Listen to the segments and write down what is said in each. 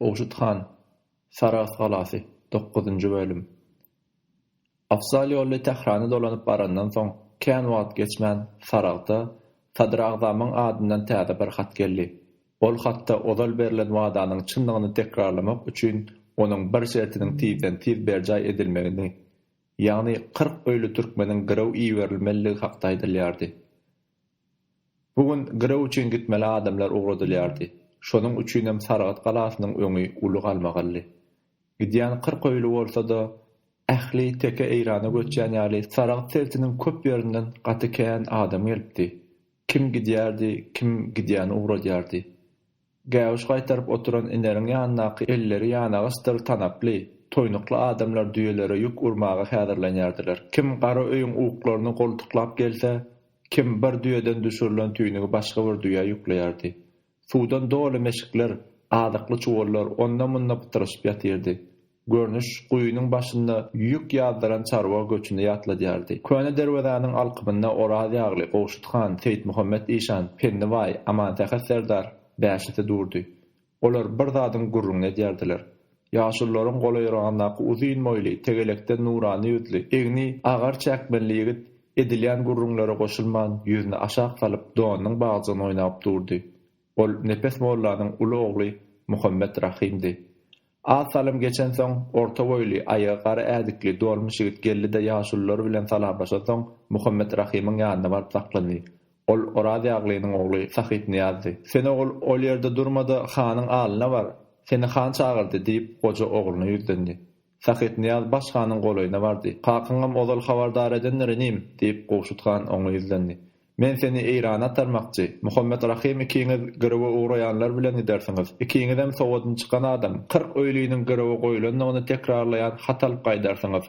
Gowşut han, Sarahs galasy, dokuzynjy bölüm. Afzal ýolly Tährana dolanyp barandan soň, kän wagt geçmän, Sarahsa Sadyragzamyň adyndan täze bir hat geldi. Ol hatda ozal berlen wadanyň çyndygyny tekrarlamak üçin onuň bir şertiniň tizden-tiz berjaý edilmegini, ýagny kyrk öýli türkmeniň girew iberilmelidigi hakda aýdylýardy. Bu gün girew üçin gitmeli adamlar ugradylýardy. Şonuň üçinem Saragt galasynyň öňi uly galmagaldy. Gidýän kyrk öýli bolsa-da, ähli teke Eýrana göçýän ýaly Saragt sebitiniň köp ýerinden gaty kän adam gelipdi. Kim gidýärdi, kim gidýäni ugradýardy. Gäwüş gaýtaryp oturan Ineriň ýanyndaky elleri ýanagaçdyr tanaply, toýnukly adamlar düýelere ýük urmaga häzirlenýärdiler. Kim gara öýüň uklaryny goltuklap gelse, kim bir düýeden düşürilen tüýnügi başga bir düýä ýükleýärdi. Suwdan doly meşikler, azykly çuwallar onda-munda pytraşyp ýatyrdy. Görnüş guýynyň başynda ýük ýazdyran çarwa göçüni ýatladýardy. Köne derwezäniň alkymynda Oraz ýagly, Gowşut han, Seýitmuhammet işan, Penni baý, Amansähet serdar bäşisi durdy. Olar bir zadyň gürrüňini edýärdiler. Ýaşulularyň golaýyragyndaky uzyn boýly, tegelekden nurana ýüzli, egni agar çäkmenli ýigit edilýän gürrüňlere goşulman, ýüzüni aşak salyp, donunyň bagjygyny oýnap durdy. Ol Nepes mollanyň uly ogly Muhammet Rahymdy. Az salym geçensoň, orta boýly, aýagy gara ädikli, dolmuş ýigit geldi-de ýaşulular bilen salamlaşansoň, Muhammet Rahymyň ýanyna baryp saklandy. Ol Oraz ýaglynyň ogly Sahypnyýazdy. Sen, ogul, ol ýerde durma-da, hanyň alyna bar. Seni han çagyrdy, diýip, goja ogluna ýüzlendi. Sahypnyýaz Baş hanyň golaýyna bardy. Kakyňam ozal habardar edendir, inim, diýip, Gowşut han oňa ýüzlendi. Men seni Eýrana atarmakçy. Muhammet Rahym ikiňiz girewe ugraýanlar bilen gidersiňiz. Ikiňizem sowadyny çykan adam. Kyrk öýliniň girewe goýlandygyny tekrarlaýan hat alyp gaýdarsyňyz.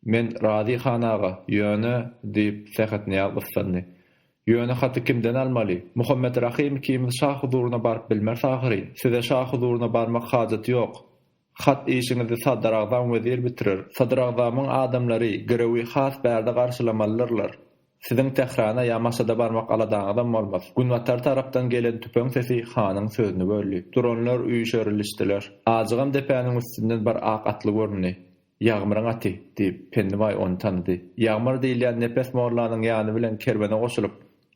Men razy, han aga. Ýöne, diýip, Sähetnyýaz gyssandy. Ýöne haty kimden almaly? Muhammet Rahym ikimiz şa huzuryna baryp bilmeris ahyryn. Size şa huzuryna barmak hajaty ýok. Hat işiňizi Sadyragzam wezir bitirer. Sadyragzamyň adamlary girewi has bärde garşylamalydyrlar. Siziň Tährana ýa Maşada barmak aladaňyzam bolmaz. Günbatar tarapdan gelen tüpeň sesi hanyň sözüni böldi. Duranlar üýşerilişdiler. Ajygam depäniň üstünden bir ak atly göründi. Ýagmyryň aty, diýip, Pennibaý ony tanady. Ýagmyr diýilýän Nepes mollanyň ýany bilen kerwene goşulyp,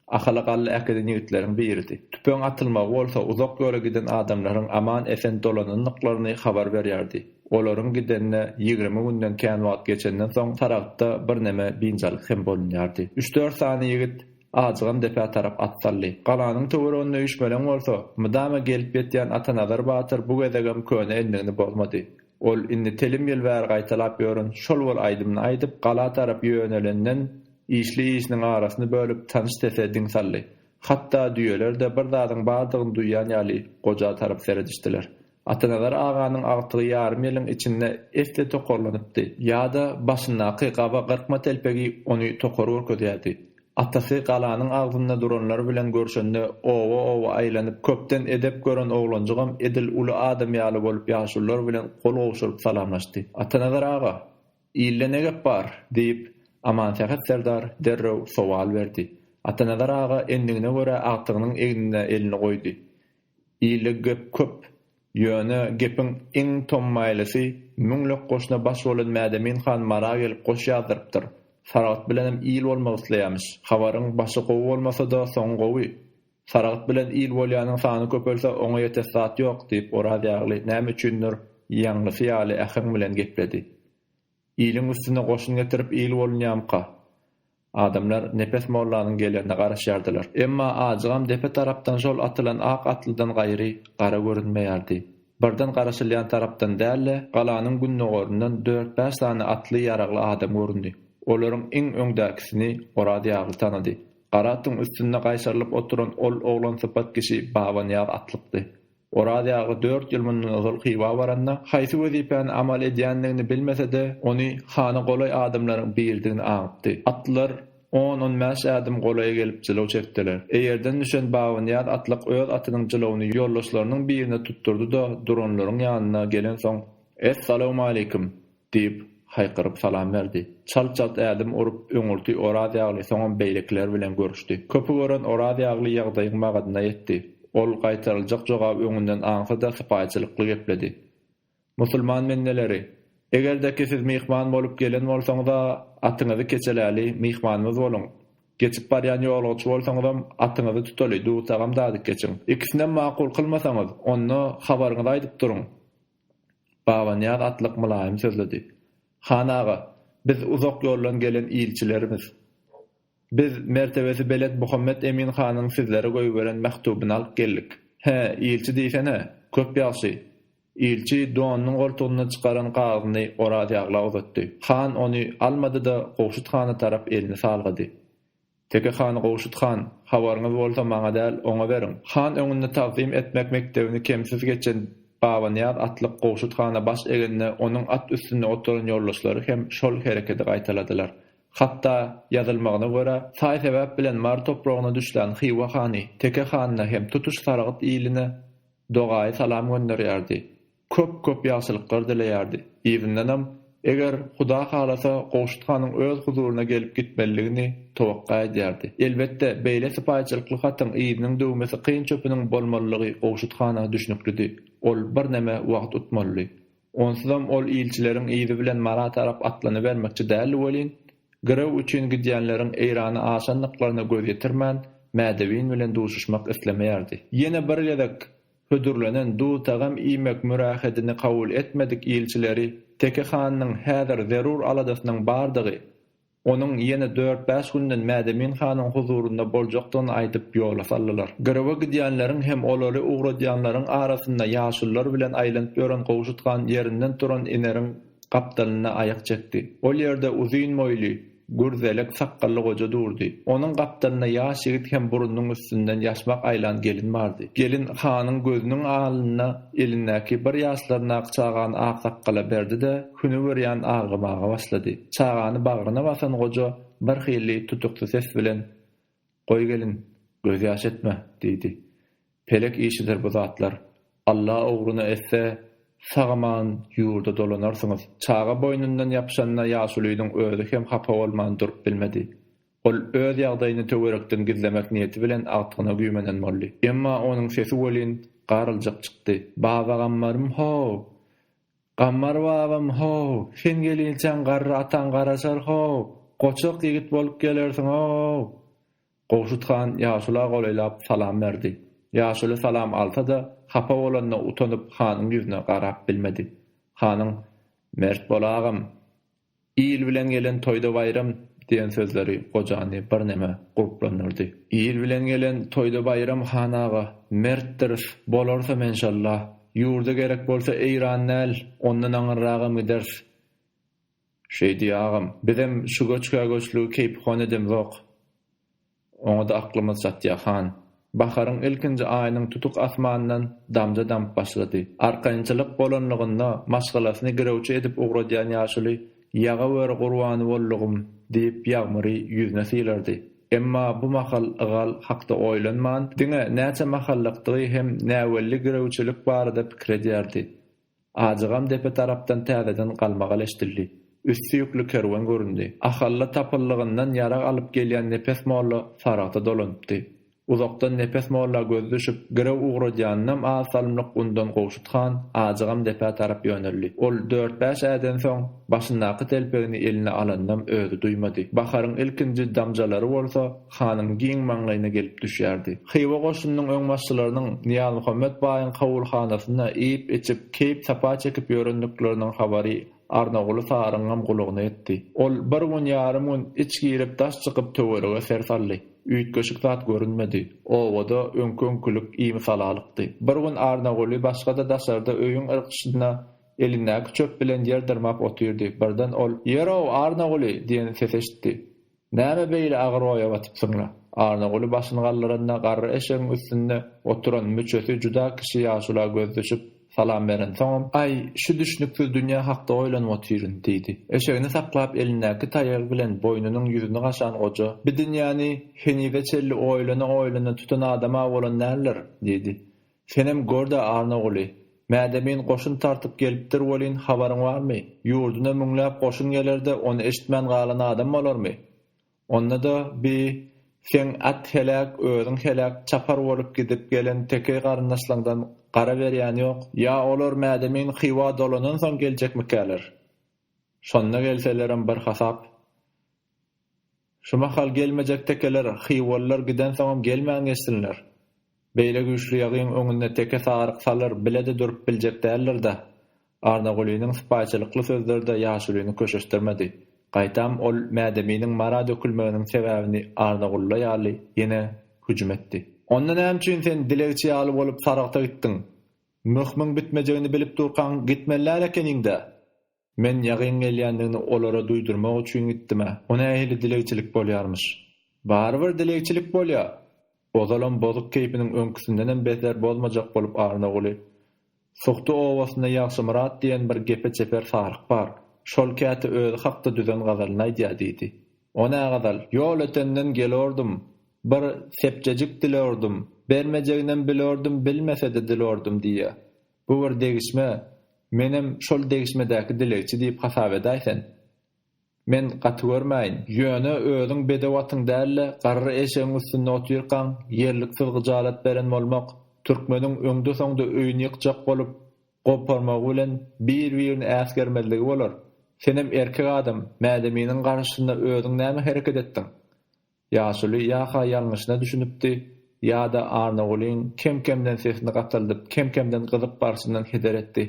Ahala galla äkiden ýigitleriň biridi. Tüpeň atylmagy bolsa uzak ýola giden adamlaryň aman-esen dolanandyklaryny habar berýärdi. Olaryň gidenine ýigrimi günden kän wagt geçenden soň Saragtda birneme biynjalyk hem bolunýardy. Üç-dört sany ýigit ajygam depä tarap at saldy. Galanyň töwereginde üýşmeleň bolsa, mydama gelip ýetýän Atanazar batyr bu gezegem köne endigini bozmady. Ol indi telim ýyl bäri gaýtalap ýören şol bir aýdymyny aýdyp, gala tarap ýönelenden, işli-işiniň arasyny bölüp, tanyş sese diň saldy. Hatda düýeler-de bir zadyň bardygyny duýýan ýaly goja tarap seredişdiler. Atanazar aganyň agtygy ýarym ýylyň içinde esli tokarlanypdy. Ýa-da başyndaky gaba gyrkma telpegi ony tokar görkezýärdi. Atasy galanyň agzynda duranlar bilen görşende oba-oba aýlanyp köpden edep gören oglanjygam edil uly adam ýaly bolup ýaşulular bilen gol gowşuryp salamlaşdy. Atanazar aga! Ilde ne gep bar? diýip, Amansähet serdar derrew sowal berdi. Atanazar aga endigine görä agtygynyň egnine elini goýdy. Ilde gep köp. Ýöne gepiň iň tommaýlysy, müňlük goşuna baş bolan Mädemin han Mara gelip goş ýazdyrypdyr. Saragt bilenem il bolmak isleýämiş. Habaryň başy gowy bolmasa-da, soňy gowy. Saragt bilen il bolýanyň sany köpelse, oňa ýetes zat ýok, diýip, Oraz ýagly näme üçindir, ýaňlysy ýaly äheň bilen gepledi. Iliň üstüne goşun getirip il bolunýamyka? Adamlar Nepes mollanyň gelenine garaşýardylar. Emma ajygam depe tarapdan şol atylan ak atlydan gaýry gara görünmeýärdi. Birden garaşylýan tarapdan däl-de, galanyň gündogaryndan dört-bäş sany atly ýaragly adam göründi. Olaryň iň öňdäkisini Oraz ýagly tanady. Gara atyň üstünde gaýşarylyp oturan ol oglansypat kişi Babanyýaz atlykdy. Oraz ýagy dört ýyl mundan ozal Hywa baranda, haýsy wezipäni amal edýändigini bilmese-de, ony hana golaý adamlaryň biridigini aňypdy. Atlylar on-on bäş ädim golaýa gelip jylaw çekdiler. Eýerden düşen Babanyýaz atlyk öz atynyň jylawuny ýoldaşlarynyň birine tutdurdy-da, duranlaryň ýanyna gelensoň, Es-salawmaleýkim! Diýip, haýkyryp salam berdi. Çalt-çalt ädim urup, öňürti Orazýagly, soňam beýlekiler bilen görüşdi. Köpi gören Orazýagly ýagdaýyň magadyna ýetdi. Ol gaýtaryljak jogaby öňünden aňsa-da sypaýyçylykly gepledi. Musulman bendeleri! Eger-de ki siz myhman bolup gelen bolsaňyz-a, atyňyzy keçeläli, myhmanymyz boluň. Geçip barýan ýolagçy bolsaňyzam, atyňyzy tutaly, dursagam dadyp geçiň. Ikisinem makul kylmasaňyz, onda, habaryňyzy aýdyp duruň! Babanyýaz atlyk mylaýym sözledi. Han aga, biz uzak ýoldan gelen ilçilerimiz. Biz mertebesi belent Muhammet Emin hanyň sizlere goýberen mähtubyny alyp geldik. Hä, ilçi diýsene, köp ýagşy. Ilçi donunyň goltugyndan çykaran kagyzyny Orazýagla uzatdy. Han ony almady-da, Gowşut hana tarap elini salgady. Teke hany Gowşut han, habaryňyz bolsa maňa däl, oňa beriň. Han öňünde tagzym etmek mekdebini kemsiz geçen Babanyýaz atlyk Gowşut hana baş egende onuň at üstünde oturan ýoldaşlary hem şol herekedi gaýtaladylar. Hatda, ýazylmagyna görä, saý-sebäp bilen Mary topragyna düşlän Hywa hany Teke hanyna hem tutuş Saragt iline dogaýy salam gönderýärdi. köp köp ýagşylyklar dileýärdi. Yzyndanam, eger Huda halasa Gowşut hanyň öz huzuryna gelip gitmelidigini towakga edýärdi. Elbetde, beýle sypaýyçylykly hatyň yzynyň döwmesi kyn çöpüniň bolmalylygy Gowşut hana düşnüklidi. Ol birneme wagt utmalydy. Onsuzam ol ilçileriň yzy bilen Mara tarap atlanybermekçi däldi welin, girew üçin gidýänleriň Eýrana aşandyklaryna göz ýetirmän, Mädewin bilen duşuşmak islemeýärdi. Ýene bir gezek Hödürlenen duz-tagam iýmek mürähetini kabul etmedik ilçileri Teke hanynyň häzir zerur aladasynyň bardygy, onuň ýene dört-bäş günden Mädemin hanyň huzurynda boljakdygyny aýdyp ýola saldylar. Girewe gidýänleriň hem olary ugradýanlaryň arasynda ýaşulular bilen aýlanyp ýören Gowşut han ýerinden turan Ineriň gapdalynda aýak çekdi. Ol ýerde uzyn boýly, Gürzelek sakgally goja durdy. Onuň gapdalynda ýaş ýigit hem burnunyň üstünden ýaşmak aýlan gelin bardy. Gelin hanyň gözüniň alnyna elindäki bir ýaşlaryndaky çagany aksakgala berdi-de, hünüwürýan aglymaga başlady. Çagany bagryna basan goja birhili tutukdy ses bilen, Goý gelin, gözýaş etme, diýdi. Pelek işidir bu zatlar. Alla ugryna etse, sag-aman ýurda dolanarsyňyz. Çaga boýnundan ýapyşanda ýaşulynyň özi hem hapa bolman durup bilmedi. Ol öz ýagdaýyny töwerekden gizlemek niýeti bilen agtygyna güýmenen boldy. Emma onuň sesi welin garyljak çykdy. Baba Gammarym-how! Gammar babam, Ho-w, sen gelinçäň garry ataň garaşar, ho-w, goçak ýigit bolup gelersiň, ho-w! Gowşut han ýaşula golaýlap salam berdi. Ýaşuly salam alsa-da, hapa bolanyna utanyp hanyň ýüzüne garap bilmedi. Hanyň, Mert bol agam! Il bilen gelen toýda baýram diýen sözleri gojany birneme goplandyrdy. Il bilen gelen toýda baýram han aga, mertdiris, bolarys-a menşalla. Ýurda gerek bolsa Eýran däl, ondan aňyrragam gideris. Şeýdi agam. Bizem şu göçgä-göçlügi keýpihon edemzok. Oňa-da aklymyz çatýar, han. Baharyň ilkinji aýynyň tutuk asmanyndan damja damyp başlady. Arkaýynçylyk bolanlygynda maşgalasyny girewçi edip ugradýan ýaşuly Ýagaweri gurbany boldugym! diýip ýagmyry ýüzüne sylardy. Emma bu mahal Ygal hakda oýlanman, diňe näçe mahallykdygy hem näwelli girewçilik barada pikir edýärdi. Ajygam depe tarapdan täzeden galmagal eşdildi. Üsti ýükli kerwen göründi. Ahalla tapyllygyndan ýarag alyp gelýän Nepes molla saragta dolanypdy. Uzakdan Nepes molla gözi düşüp, girew ugradýanynam az salymlyk undan Gowşut han Ajygam depä tarap ýöneldi. Ol dört-bäş äden soň, başyndaky telpegini eline alanynam özi duýmady. Baharyň ilkinji damjalary bolsa, hanyň giň maňlaýyna gelip düşýärdi. Hywa goşunynyň öňbaşçylarynyň Nyýazmuhammet baýyň kabulhanasynda iýip-içip, keýp-sapa çekip ýörendikleriniň habary Arnaguly saryňam gulagyna ýetdi. Ol bir gün, ýarym gün iç girip, daş çykyp, töwerege ser saldy. Üýtgeşik zat görünmedi. Obada öňki-öňkülik imi-salalykdy. Bir gün Arnaguly başga-da daşarda öýüň yrgyşynda elindäki çöp bilen ýer dyrmap otyrdy. Birden ol, Ýer-ow, Arnaguly! diýen ses eşitdi. Näme beýle agyr oýa batypsyň-la? Annaguly başyny galdyranda garry eşegiň üstünde oturan müçesi juda kişi ýaşula göz düşüp, salam berensoňam, Aý, şu düşnüksiz dünýe hakda oýlanyp otyryn, diýdi. Eşegini saklap elindäki taýagy bilen boýnunyň ýüzüni gaşan goja, Bi dünýäni henize çenli oýlana-oýlana tutan adam-a bolan däldir, diýdi. Senem gör-de, Annaguly, Mädemin goşun tartyp gelipdir welin, habaryň barmy? Ýurduna müňläp goşun geler-de, ony eşitmän galan adam bolarmy? Onda-da bi, seň at heläk, özüň heläk, çapar bolup gidip gelen tekeý garyndaşlaňdan gara berýän ýok. Ýa olar Mädemin Hywa dolanansoň geljekmikäler? Şonda gelselerem bir hasap. Şu mahal gelmejek tekeler, hywalylar gidensoňam gelmän geçsinler. Beýle güýçli ýagyň öňünde teke saryk salyr bile-de durup biljek däldir-dä. Arnagulynyň sypaýyçylykly sözleri-de ýaşulyny köşeşdirmedi. Gaýtam ol Mädeminiň mara dökülmeginiň sebäbini Arnagulla ýaly ýene hüjüm etdi. Onda näme üçin sen dilegçi ýaly bolup sarygta gitdiň? Möhümiň bitmejegini bilip durkaň gitmeli däl ekeniň-dä? Men ýagyň gelýändigini olara duýdurmak üçin gitdim-ä. O nähili dilegçilik bolýarmyş? Barybir dilegçilik bolýa! Ozalam bozuk keýpiniň öňküsindenem beter bozmajak bolup Arnaguly. Suhty obasynda Ýagşymyrat diýen bir gepe çeper saryk bar. Şol käte özi hakda düzen gazalyny aýdýa, diýdi. O nä gazal? Ýol ötenden gelordum. Bir sepjejik dilordum. Bermejeginem bilordum, bilmese-de dilordum diýýä. Bu bir degişme, menem şol degişmedäki dilegçi diýip hasap edäý sen. Men gaty görmäýin. Ýöne özüň bedew atyň däl-de, garry eşegiň üstünde otyrkaň, ýerliksiz gyjalat beren bolmak, türkmeniň öňde-soňda öýüni ýykjak bolup, goparmagy bilen bir-birini äsgermezligi bolar. Senem erkek adam, Mädeminiň garşysynda özüň näme hereket etdiň? Ýaşuly ýa-ha ýalňyşyna düşünipdi, ýa-da Arnagulyň kem-kemden sesini gataldyp, kem-kemden gyzyp barşyndan heder etdi.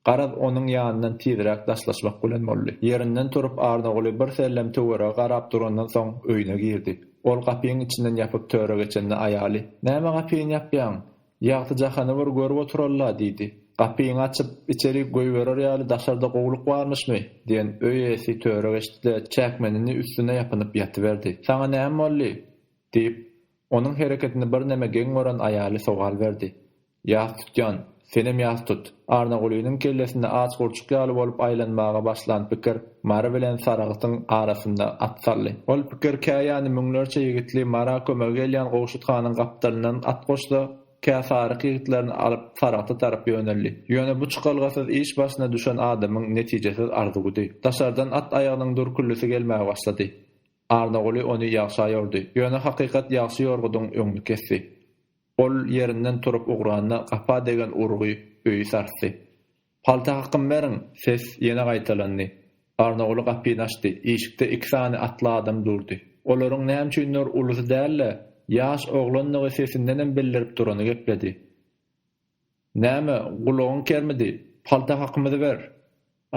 Garaz, onuň ýanyndan tizräk daşlaşmak bilen boldy. Ýerinden turup, Arnaguly birsellem töwerege garap durandan soň öýüne girdi. Ol gapyň içinden ýapyp töre geçende aýaly, Näme gapyny ýapýaň? Ýagty jahany bir görüp oturally-la, diýdi. Gapyňy açyp, içerik goýberer ýaly daşarda gowulyk barmyşmy? diýen öý eýesi töre geçdi-de, çäkmenini üstüne ýapynyp ýatyberdi. Saňa näme boldy? diýip, onuň hereketini birneme geň gören aýaly sowal berdi. Ýas tutýan, senem ýas tut! Arnagulynyň kellesinde aç gurçuk ýaly bolup aýlanmaga başlan pikir Mary bilen Saragtyň arasynda at saldy. Ol pikir kä ýany müňlerçe ýigitli Mara kömege gelýän Gowşut hanyň gapdalyndan at goşsa, kä Saryk ýigitlerini alyp Saragta tarap ýöneldi. Ýöne bu çykalgasyz iş başyna düşen adamyň netijesiz arzuwydy. Daşardan at aýagynyň dürküllisi gelmäge başlady. Arnaguly ony ýagşa ýordy. Ýöne hakykat ýagşy ýorgudyň öňüni kesdi. Ol ýerinden turup ugranda gapa degen urgy öýi sarsdy. Palta hakym beriň! ses ýene gaýtalandy. Garnaguly gapyny açdy. Işikde iki sany atly adam durdy. Olaryň näme üçindir ulusy däl-de, ýaş oglandygy sesindenem bildirip durany gepledi. Näme, gulagyň kermidi? Palta hakymyzy ber!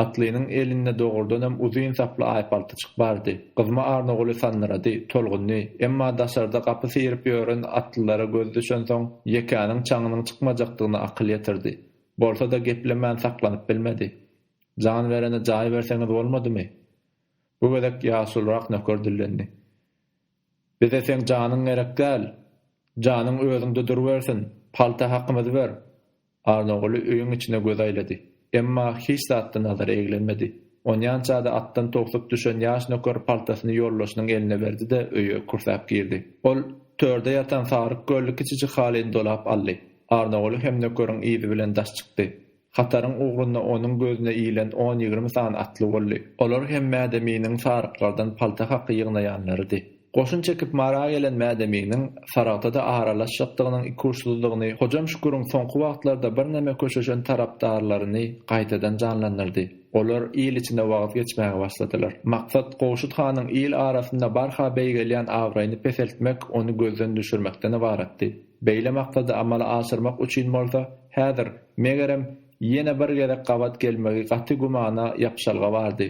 Atlynyň elinde dogrudanam uzyn saply aýpaltyjyk bardy. Gyzma Arnaguly sandyrady, tolgundy. Emma daşarda gapy syryp ýören atlylara gözi düşensoň, Ýekäniň çaňynyň çykmajakdygyna akyl ýetirdi. Bolsa-da geplemän saklanyp bilmedi. Jan berene jaý berseňiz bolmadymy? Bu gezek ýaşulyrak nöker dillendi. Bize seň janyň gerek däl. Janyň özüňde durubersin. Palta hakymyzy ber. Arnaguly öýüň içine göz aýlady. Emma hiç zatda nazary eglenmedi. Onýança-da atdan towsup düşen ýaş nöker paltasyny ýoldaşynyň eline berdi-de öýe kürsäp girdi. Ol törde ýatan saryk gölli kiçijik halyny dolap aldy. Arnaguly hem nökeriň yzy bilen daş çykdy. Hataryň ugrunda onuň gözüne ilen on-ýigrimi sany atly boldy. Olar hem Mädeminiň saryklardan palta haky ýygnaýanlarydy. Goşun çekip Mara gelen Mädeminiň Saragtada aralaşjakdygynyň ikuçsyzdygyny Hojam Şüküriň soňky wagtlarda birneme köşeşen tarapdarlaryny gaýtadan janlandyrdy. Olar il içine wagyz geçmäge başladylar. Maksat Gowşut hanyň il arasynda barha beýgelýän abraýyny peseltmek, ony gözden düşürmekden ybaratdy. Beýle maksady amala aşyrmak üçin bolsa, häzir, megerem, ýene bir gezek gabat gelmegi gaty gümana ýapyşalga bardy.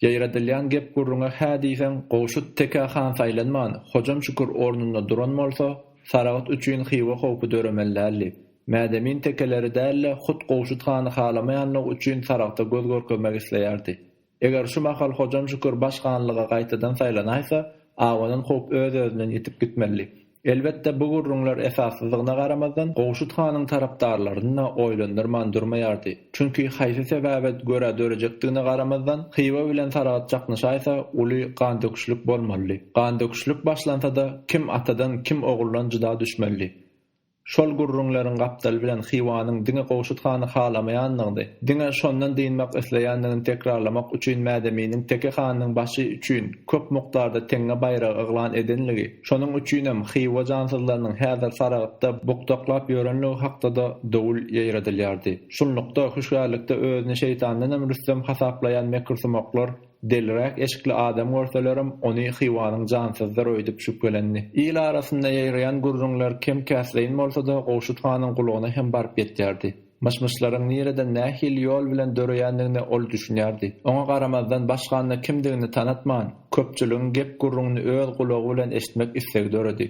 Ýaýradylýan gep-gürrüňe hä diýseň, Gowşut tekä han saýlanman, Hojam Şükür ornunda duran bolsa, Saragt üçin Hywa howpy döremeli däldi. Mädemin tekeleri däl-de, hut Gowşut hany halamaýanlygy üçin Saragta göz görkezmek isleýärdi. Eger şu mahal Hojam Şükür baş hanlyga gaýtadan saýlanaýsa, abanan howp öz-özünden ýitip gitmelidi. Elbetde, bu gürrüňler esassyzdygyna garamazdan, Gowşut hanyň tarapdarlaryny-da oýlandyrman durmaýardy. Çünki, haýsy sebäbe görä dörejekdigine garamazdan, Hywa bilen Saragt çaknyşaýsa, uly gandöküşlik bolmalydy. Gandöküşlik başlansa-da, kim atadan, kim oguldan jyda düşmelidi. Şol gürrüňleriň gapdaly bilen Hywanyň diňe Gowşut hany halamaýandygyny, diňe şondan dynmak isleýändigini tekrarlamak üçin Mädeminiň Teke hanyň başy üçin köp mukdarda teňňe baýragy yglan edenligi, şonuň üçinem Hywa jansyzlarynyň häzir Saragtda bukdaklap ýörenligi hakda-da dowul ýaýradylýardy. Şunlukda, hüşgärlikde özüni şeýtandanam rüstem hasaplaýan mekirsumaklar, Deliräk eşikli adam görselerem, ony Hywanyň jansyzdyr öýdüp şübhelendi. Il arasynda ýaýraýan gürrüňler kem-käsleýin bolsa-da, Gowşut hanyň gulagyna hem baryp ýetýärdi. Myş-myşlaryň nireden, nähili ýol bilen döreýändigine ol düşünýärdi. Oňa garamazdan, baş handa kimdigini tanatman, köpçüligiň gep-gürrüňini öz gulagy bilen eşitmek islegi döredi.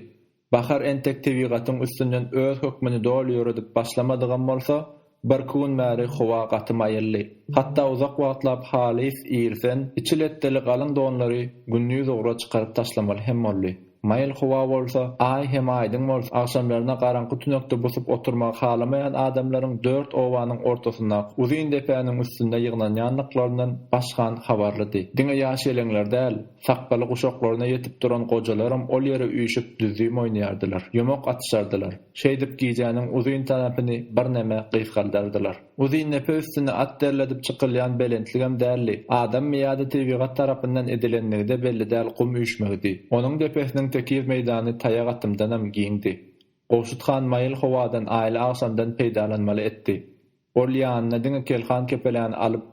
Bahar entek tebigatyň üstünden öz hökmüni doly ýöredip başlamadygam bolsa, birki gün bäri howa gaty maýyldy. Hatda uzak wagtlap halys irsen, içi letdeli galyň donlary gündiz ugra çykaryp taşlamaly hem boldy. Maýyl howa bolsa, Aý hem aýdyň bolsa, agşamlaryna garaňky tünekde busup oturmagy halamaýan adamlaryň dört obanyň ortasyndaky uzyn depäniň üstünde ýygnanýandyklaryndan başgan habarlydy. Diňe ýaş-ýeleňler däl. Sakgaly guşaklaryna ýetip duran gojalaram ol ýere üýşüp düzzüm oýnaýardylar, ýumak atyşardylar. Şeýdip gijäniň uzyn tarapyny birneme gysgaldardylar. Uzyndepe üstüne at derledip çykylýan belentligem däldi. Adammy ýa-da tebigat tarapyndan edilendigi-de belli däl gum üýşmegidi. Onuň depesiniň tekiz meýdany taýak atymdanam giňdi. Gowşut han maýyl howadan aýly agşamdan peýdalanmaly etdi. Ol ýanyna diňe kelhan-kepeleni alyp,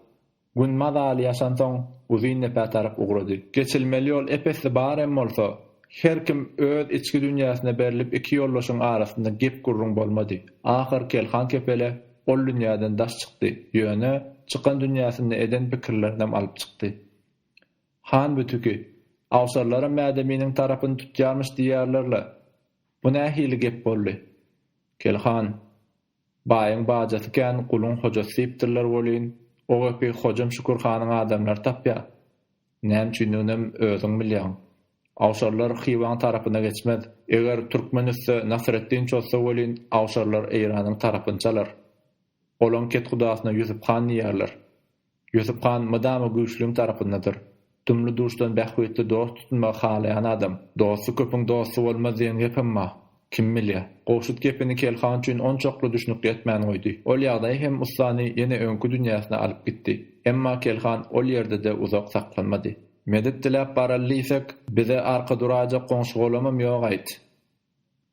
Gün mazaly ýaşansoň, Uzyndepe tarap ugrady. Geçilmeli ýol ep-esli bar hem bolsa, her kim öz içki dünýäsine berlip iki ýoldaşyň arasynda gep-gürrüň bolmady. Ahyr Kelhan kepele ol dünýäden daş çykdy, ýöne, çykan dünýäsinde eden pikirlerinem alyp çykdy. Han bu tüki, awşarlaram Mädeminiň tarapyny tutýarmyş diýýärler-le. Bu nähili gep boldy? Kelhan. Baýyň bajasy kän, guluň hojasy diýipdirler welin, o gepi Hojam Şükür hanyň adamlary tapýar. Näme üçindiginem özüň bilýäň. Awşarlar Hywaň tarapyna geçmez. Eger türkmen üste Nasreddin çozsa welin, awşarlar Eýranyň tarapyny çalar. Olaň kethudasyna Ýusup han diýerler. Ýusup han mydama güýçlüň tarapyndadyr. Dumly-duşdan bähbitli dost tutunmagy halaýan adam. Dosty köpüň dosty bolmaz diýen gepem bar. Kim bilýä. Gowşut gepini Kel han üçin onçakly düşnükli etmän goýdy. Ol ýagdaý hem ussany ýene öňki dünýäsine alyp gitdi. Emma Kel han ol ýerde-de uzak saklanmady. Medet diläp baraly diýsek, bize arka duraýjak goňşy-golamam ýok-aýt.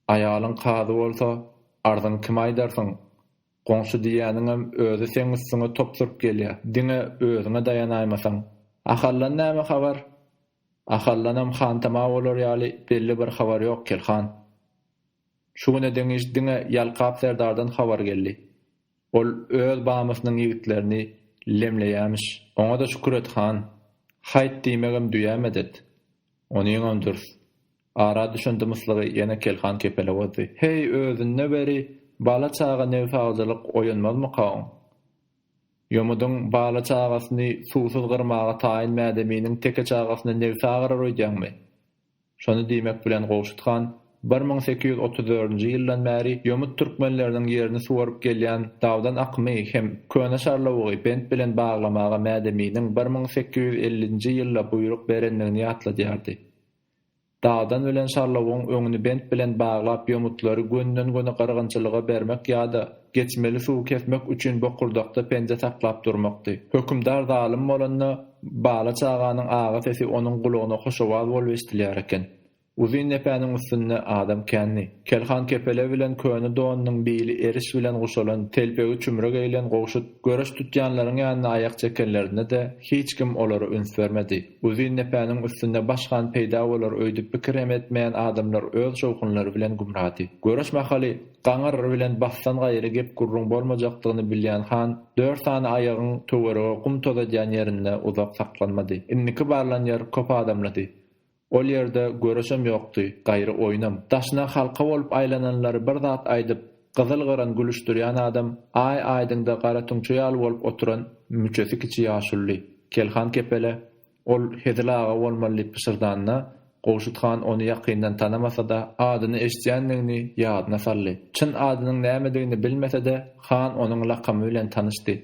Aýalyň kazy bolsa, arzyňy kime aýdarsyň? Goňşy diýýäniňem özi seň üstüňe top sürup gelýä, diňe özüňe daýanaýmasaň. Ahaldan näme habar? Ahaldanam hantama bolar ýaly belli bir habar ýok, Kelhan. Şu güne deňiş diňe Ýalkap serdardan habar geldi. Ol öz bamysynyň ýigitlerini lemleýämiş. Oňa-da şükür et, han. Haýt diýmegem düýä medet. Onyňam dürs. Ara düşen dymyslygy ýene Kelhan kepele bozdy. Heý, özünde beri, bala-çaga nebsagyjylyk oýanmazmyka oň? Ýomudyň bala-çagasyny suwsuz gyrmaga taýyn mädeminiň teke çagasyny nebsa gyrar öýdýäňmi? Şony diýmek bilen Gowşut han bir müň sekiz ýüz otuz dördünji ýyldan bäri ýomut türkmenleriniň ýerini suwaryp gelýän dawdan akymy hem Köne Şarlawugy bent bilen baglamaga mädeminiň bir müň sekiz ýüz ellinji ýylda buýruk berendigini ýatladýardy. Dagdan ölen şarlawugyň öňüni bent bilen baglap ýomutlary gönden-göne gyrgynçylyga bermek ýa-da geçmeli suwy kesmek üçin bokurdakda penje saklap durmakdy. Hökümdar zalym bolanda, bala çaganyň agy sesi onuň gulagyna hoşowaz bolup eşdilýär eken. Uzyn depäniň üstünde adam kändi. Kelhan kepele bilen köne donunyň bili eriş bilen guşalan, telpegi çümre geýlen Gowşut, göreş tutýanlaryň ýanyna aýak çekenlerinde-de hiç kim olara üns bermedi. Uzyn depäniň üstünde baş han peýda bolar öýdüp pikir hem etmeýän adamlar öz şowhunlary bilen gümrady. Göreş mahaly gaňyr bilen basdan gaýry gep-gürrüň bolmajakdygyny bilýän han dört sany aýagyň töwerege gum tozadýan ýerinde uzak saklanmady. Indiki barlan ýer köp adamlydy. Ol ýerde göreşem ýokdy, gaýry oýnam. Daşyna halka bolup aýlananlary bir zat aýdyp, Gyzyl-gyran gülüşdirýän adam Aý aýdyňda gara tüňçe ýaly bolup oturan müçesi kiçi ýaşuly, kelhan kepele. Ol Hezil aga bolmaly diýip pyşyrdanda, Gowşut han ony ýakyndan tanamasa-da, adyny eşidýändigini ýadyna saldy. Çyn adynyň nämedigini bilmese-de, han onuň lakamy bilen tanyşdy.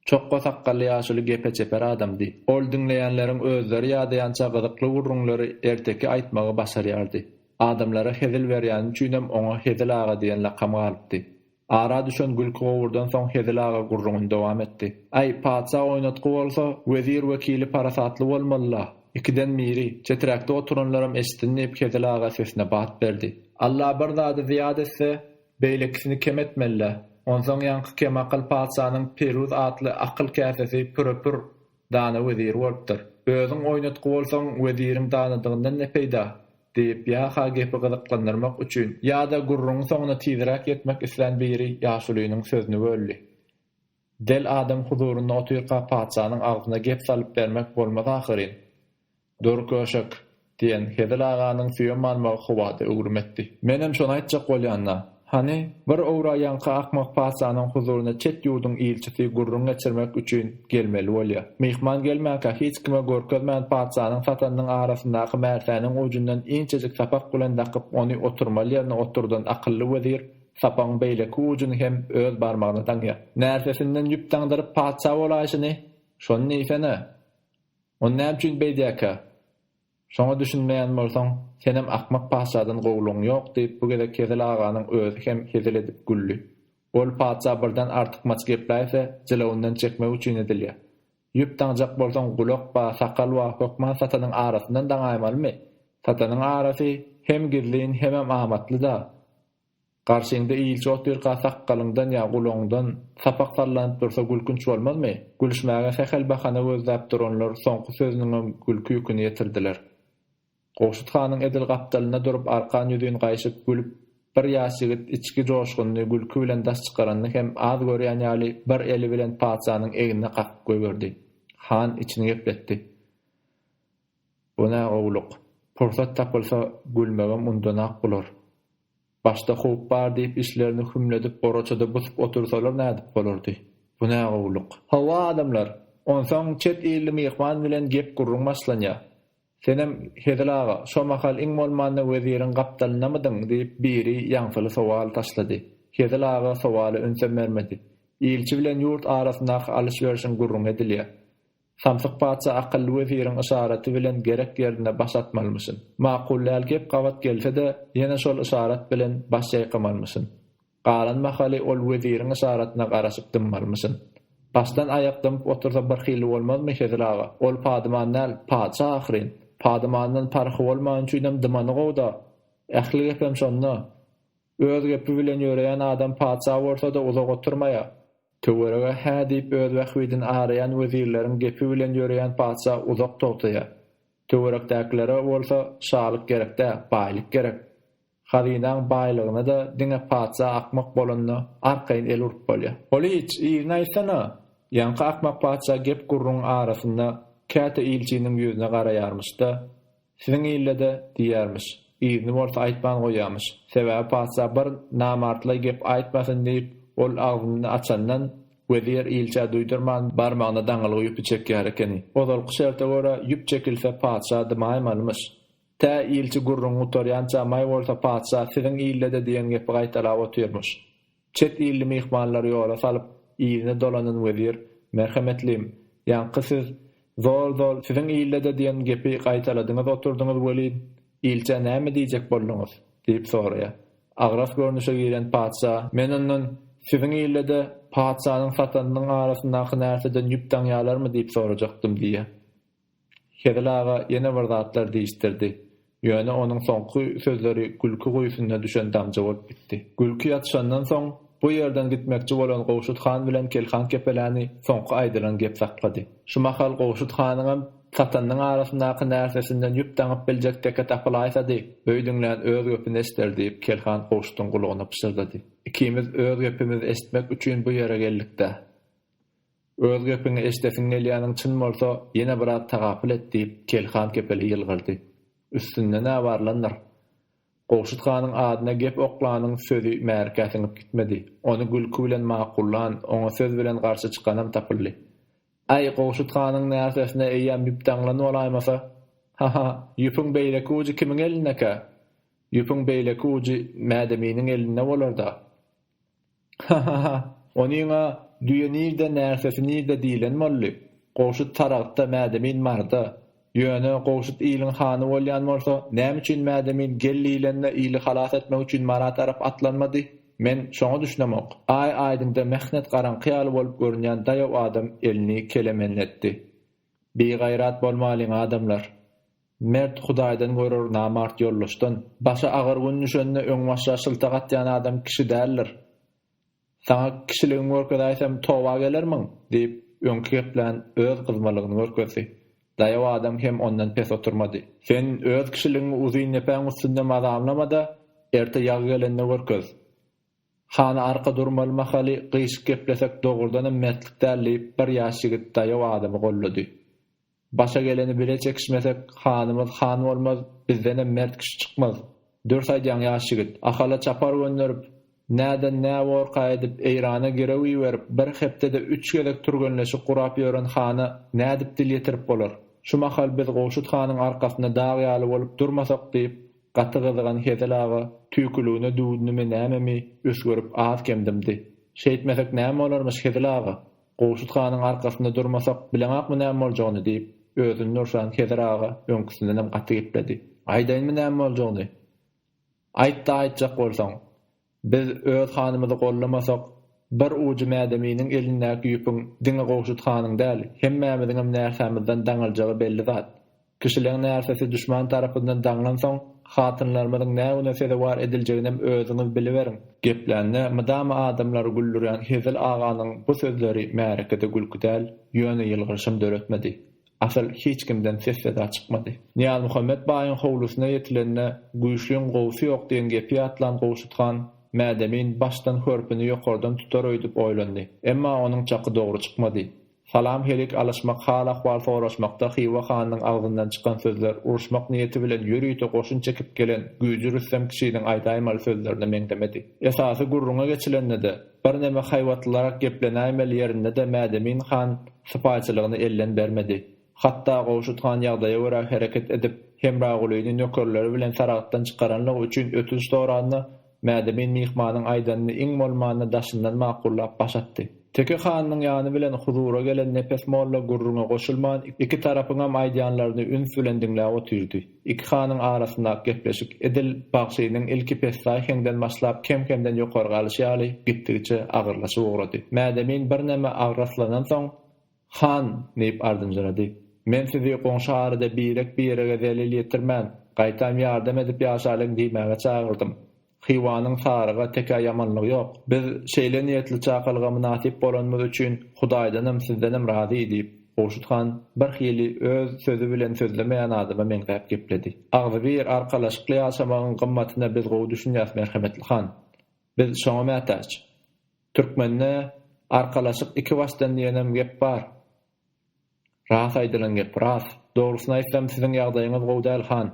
Çokga sakgally ýaşuly gepe çeper adamdy. Ol diňleýänleriň özleri ýadaýança gyzykly gürrüňleri erteki aýtmagy başarýardy. Adamlara hezil berýäni üçinem oňa Hezil aga diýen lakam galypdy. Ara düşen gülki-gowurdan soň Hezil aga gürrüňini dowam etdi. Aý, patyşa oýnatgy bolsa, wezir-wekili parasatly bolmaly-la! Ikiden biri, çeträkde oturanlaram eşitsin diýip Hezil aga sesine bat berdi. Alla bir zady zyýat etse, Beýlekisini kem etmeli-dä. Onsoň ýaňky kemakyl patyşanyň Peruz atly akyl käsesi püre-pür dana weziri bolupdyr. Özüň oýnatgy bolsaň, weziriň danadygyndan ne peýda? diýip, ýa-ha gepi gyzyklandyrmak üçin, ýa-da gürrüňiň soňuna tizräk ýetmek islän biri ýaşulynyň sözüni böldi. Del adam huzurynda otyrka patyşanyň agzyna gep salyp bermek bolmaz ahyryn. Dur köşek! diýen Hezil aganyň süýem almagy howada öwrüm etdi. Menem şony aýtjak bolýan-da. Hany, bir owraýanka akmak patyşanyň huzuryna çet ýurduň ilçisi gürrüň geçirmek üçin gelmeli bolýa. Myhman gelmänkä hiç kime görkezmän patyşanyň satanynyň arasyndaky märsäniň ujundan inçejik sapak bilen dakyp ony oturmaly ýerine oturdan akylly wezir Sapagyň beýleki ujuny hem öz barmagyna daňýar. Närsesinden ýüp daňdyryp patyşa bolaýşyny, şony diýsene! Ony näme üçin beýdýärkä? Şoňa düşünmeýän bolsaň, senem akmak patyşadan gowulygyň ýok, diýip, bu gezek Hezil aganyň özi hem hezil edip güldi. Ol patyşa birden artykmaç gepläýse, jylawyndan çekmek üçin edilýär. Ýüp daňjak bolsaň, gulak ba, sakal ba, hökman satanyň arasyndan daňaýmalymy? Satanyň arasy hem gizlin, hemem amatly-da. Garşyňda ilçi otyrka sakgalyňdan ýa gulagyňdan sapak sallanyp dursa gülkünç bolmazmy? Gülüşmäge sähel bahana gözläp duranlar soňky sözüniňem gülki ýüküni ýetirdiler. Gowşut hanyň edil gapdalynda durup arkan ýüzin gaýşyp gülüp bir ýaş ýigit içki joşgunyny gülki bilen daş çykaranyny hem az görýän ýaly bir eli bilen patyşanyň egnine kakyp goýberdi. Han içini gepletdi. Bu nä gowluk. Pursat tapylsa gülmegem undanak bolar. Başda howp bar diýip içlerini hümledip goraçada busup otursalar nädip bolardy. Bu nä gowluk. Hawa adamlar, onsoň çet illi myhman bilen gep-gürrüň başlanýa. Senem, Hezil aga, şo mahal iň bolmanda weziriň gapdalyndamydyň diýip biri ýaňsyly sowal taşlady. Hezil aga sowala ünsem bermedi. Ilçi bilen ýurt arasyndaky alyş-berşiň gürrüňi edilýä. Samsyk patyşa akylly weziriň yşaraty bilen gerek ýerinde baş atmalymyşyn. Makul däl gep gabat gelse-de, ýene şol yşarat bilen baş ýaýkamalymyşyn. Galan mahaly ol weziriň yşaratyna garaşyp dymmalymyşyn. Başdan aýak dymyp otursa birhili bolmazmy, Hezil aga? Ol padyman däl, patyşa ahyryn. Padymandan parhy bolman üçinem dymany gowy-da. Ähli gepem şonda. Öz gepi bilen ýöreýän adam patyşa bolsa-da uzak oturmaýar. Töwerege hä diýip öz bähbidini araýan wezirleriň gepi bilen ýöreýän patyşa uzak togtaýar. Töwerekdäkilere bolsa şalyk gerek däl, baýlyk gerek. Hazynaň baýlygyna-da diňe patyşa akmak bolanda arkaýyn el urup bolýar. Olyç, yzyny aýtsana! Ýaňky akmak patyşa gep-gürrüňiň arasynda käte ilçiniň ýüzüne garaýarmyş-da, Siziň ilde-de diýýärmiş. Yzyny bolsa aýtman goýýarmyş. Sebäbi patyşa bir namartlaý gep aýtmasyn diýip, ol agzyny açandan, wezir ilçä duýdurman barmagyna daňylgy ýüpi çekýär ekeni. Ozalky şerte görä, ýüp çekilse patyşa dymaýmalymyş. Tä ilçi gürrüňi gutarýança maý bolsa patyşa siziň ilde-de diýen gepi gaýtalap otyrmyş. Çet illi myhmanlary ýola salyp, yzyna dolanan wezir, Merhemetlim, ýaňky siz, Zol-zol, siziň ilde-de diýen gepi gaýtaladyňyz oturdyňyz welin, ilçä näme diýjek bolduňyz? diýip soraýar. Agras görnüşe giren patyşa, Men ondan, Siziň ilde-de patyşanyň satanynyň arasyndaky närseden ýüp daňýarlarmy diýip sorajakdym diýýär. Hezil aga ýene bir zatlar diýişdirdi. Ýöne onuň soňky sözleri gülki guýusyna düşen damja bolup gitdi. Gülki ýatyşandan soň, bu ýerden gitmekçi bolan Gowşut han bilen Kelhan kepeläni soňky aýdylan gep saklady. Şu mahal Gowşut hanyňam Satanyň arasyndaky närsesinden ýüp daňyp biljek teke tapylaýsady, öýdüňlän öz gepini eşder diýip Kelhan Gowşutyň gulagyna pyşyrdady. Ikimiz öz gepimizi eşitmek üçin bu ýere geldik-dä. Öz gepiňi eşidesiň gelýäniň çyn bolsa, ýene biraz tagapyl et, diýip, Kel han kepele ýylgyrdy. Üstünde-nä bar landyr? Gowşut hanyň adyna gep oklanyň sözi Märikä siňip gitmedi. Ony gülki bilen makullan, oňa söz bilen garşy çykanam tapyldy. Äý, Gowşut hanyň närsesine eýýäm ýüp daňlan bolaýmasa? Ha-ha, ýüpüň beýleki ujy kimiň elindekä? Ýüpüň beýleki ujy Mädeminiň elinde bolar-da. Hahaha, onyň-a Düýe nirde, närsesi nirde diýlen boldy. Gowşut Saragtda, Mädemin Marda. Ýöne, Gowşut iliň hany bolýan bolsa, näme üçin Mädemin gel diýlende ili halas etmek üçin Mara tarap atlanmady? Men şoňa düşünemok. Aý aýdyňda mähnet garaňky ýaly bolup görünýän daýaw adam elini kelemenletdi. Bigaýrat bolmalyň, adamlar! Mert Hudaýdan görer namart ýoldaşdan. Başa agyr gün düşende öňbaşa şyltak atýan adam kişi däldir. Saňa kişiligiňi görkezäýsem toba gelermiň? diýip, öňki geplän öz gyzmalygyny görkezdi. Daýaw adam hem ondan pes oturmady. Sen öz kişiligiňi uzyn depäň üstünde mazamlama-da, erte ýag gelende görkez. Hany arka durmaly mahaly gyýşyk geplesek dogrudanam mertlik däl diýip, bir ýaş ýigit daýaw adamy gollady. Başa geleni bile çekişmesek, hanymyz han bolmaz, bizdenem mert kişi çykmaz. Dürs aýdýaň ýaş ýigit. Ahala çapar gönderip, näden nä worka edip, Eýrana girew iberip, bir hepdede üç gezek türgenleşik gurap ýören hana nädip dil ýetirip bolar? Şu mahal biz Gowşut hanyň arkasynda dag ýaly bolup durmasak diýip, gaty gyzygan Hezil aga tüýküligine düwdünimi nämemi üsgürip az-kem dymdy. Şeýtmesek näme bolarmyş Hezil aga? Gowşut hanyň arkasynda durmasak, bileňokmy näme boljagyny? diýip, özüni nurşan Hezir aga öňküsindenem gaty gepledi. Aýdaýynmy näme boljagyny? Aýt-da aýtjak bolsaň. Biz öz hanymyzy gollamasak, bir ujy Mädeminiň elindäki ýüpüň diňe Gowşut hanyň däl, hemmämiziňem näsamyzdan daňyljagy belli zat. Kişileň närsesi duşman tarapyndan daňlansoň, hatynlarymyzyň nä güne sezewar ediljeginem özüňiz biliberiň! Geplände mydama adamlary güldürýän Hezil aganyň bu sözleri märekede gülki däl, ýöne ýylgyryşam döretmedi. Asyl, hiç kimden ses-seda çykmady. Nyýazmuhammet baýyň howlusyna ýetilende, Güýçliň gowusy ýok diýen gepi ýatlan Gowşut han, Mädemin başdan hörpüni ýokardan tutar öýdüp oýlandy. Emma onuň çaky dogry çykmady. Salam-helik alyşmak, hal-ahwal soraşmakda Hywa hanynyň agzyndan çykan sözler uruşmak niýeti bilen ýörite goşun çekip gelen güýji Rüstem kişiniň aýdaýmaly sözlerine meňzemedi. Esasy gürrüňe geçilende-de, birneme haýbatlylarak geplenäýmeli ýerinde-de Mädemin han sypaýçylygyny elden bermedi. Hatda Gowşut han ýagdaýa görä hereket edip, Hemragulyny nökerleri bilen Saragtdan çykaranlygy üçin ötünç soranda, Mädemin myhmanyň aýdanyny iň bolmanda daşyndan makullap baş atdy. Teke hanynyň ýany bilen huzura gelen Nepes molla gürrüňe goşulman, iki tarapyňam aýdýanlaryny üns bilen diňläp otyrdy. Iki hanyň arasyndaky gepleşik edil bagşynyň ilki pessaý heňden başlap kem-kemden ýokarga alyşy ýaly, gitdigiçe agyrlaşyp ugrady. Mädemin birneme agraslanansoň. Han! diýip ardynjyrady. Men sizi goňşy arada birek-birege zelel ýetirmän, gaýtam ýardam edip ýaşalyň diýmäge çagyrdym. Hywanyň saryga tekä ýamanlygy ýok. Biz şeýle niýetli çakalga mynasyp bolanymyz üçin Hudaýdanam, sizdenem razy, diýip, Gowşut han birhili öz sözi bilen sözlemeýän adama meňzäp gepledi. Agzybir, arkalaşykly ýaşamagyň gymmatyna biz gowy düşünýäs, merhemetli han. Biz şoňa mätäç. Türkmende Arkalaşyk iki başdan diýenem gep bar. Ras aýdylan gep, ras. Dogrusyny aýtsam siziň ýagdaýyňyz gowy däl han.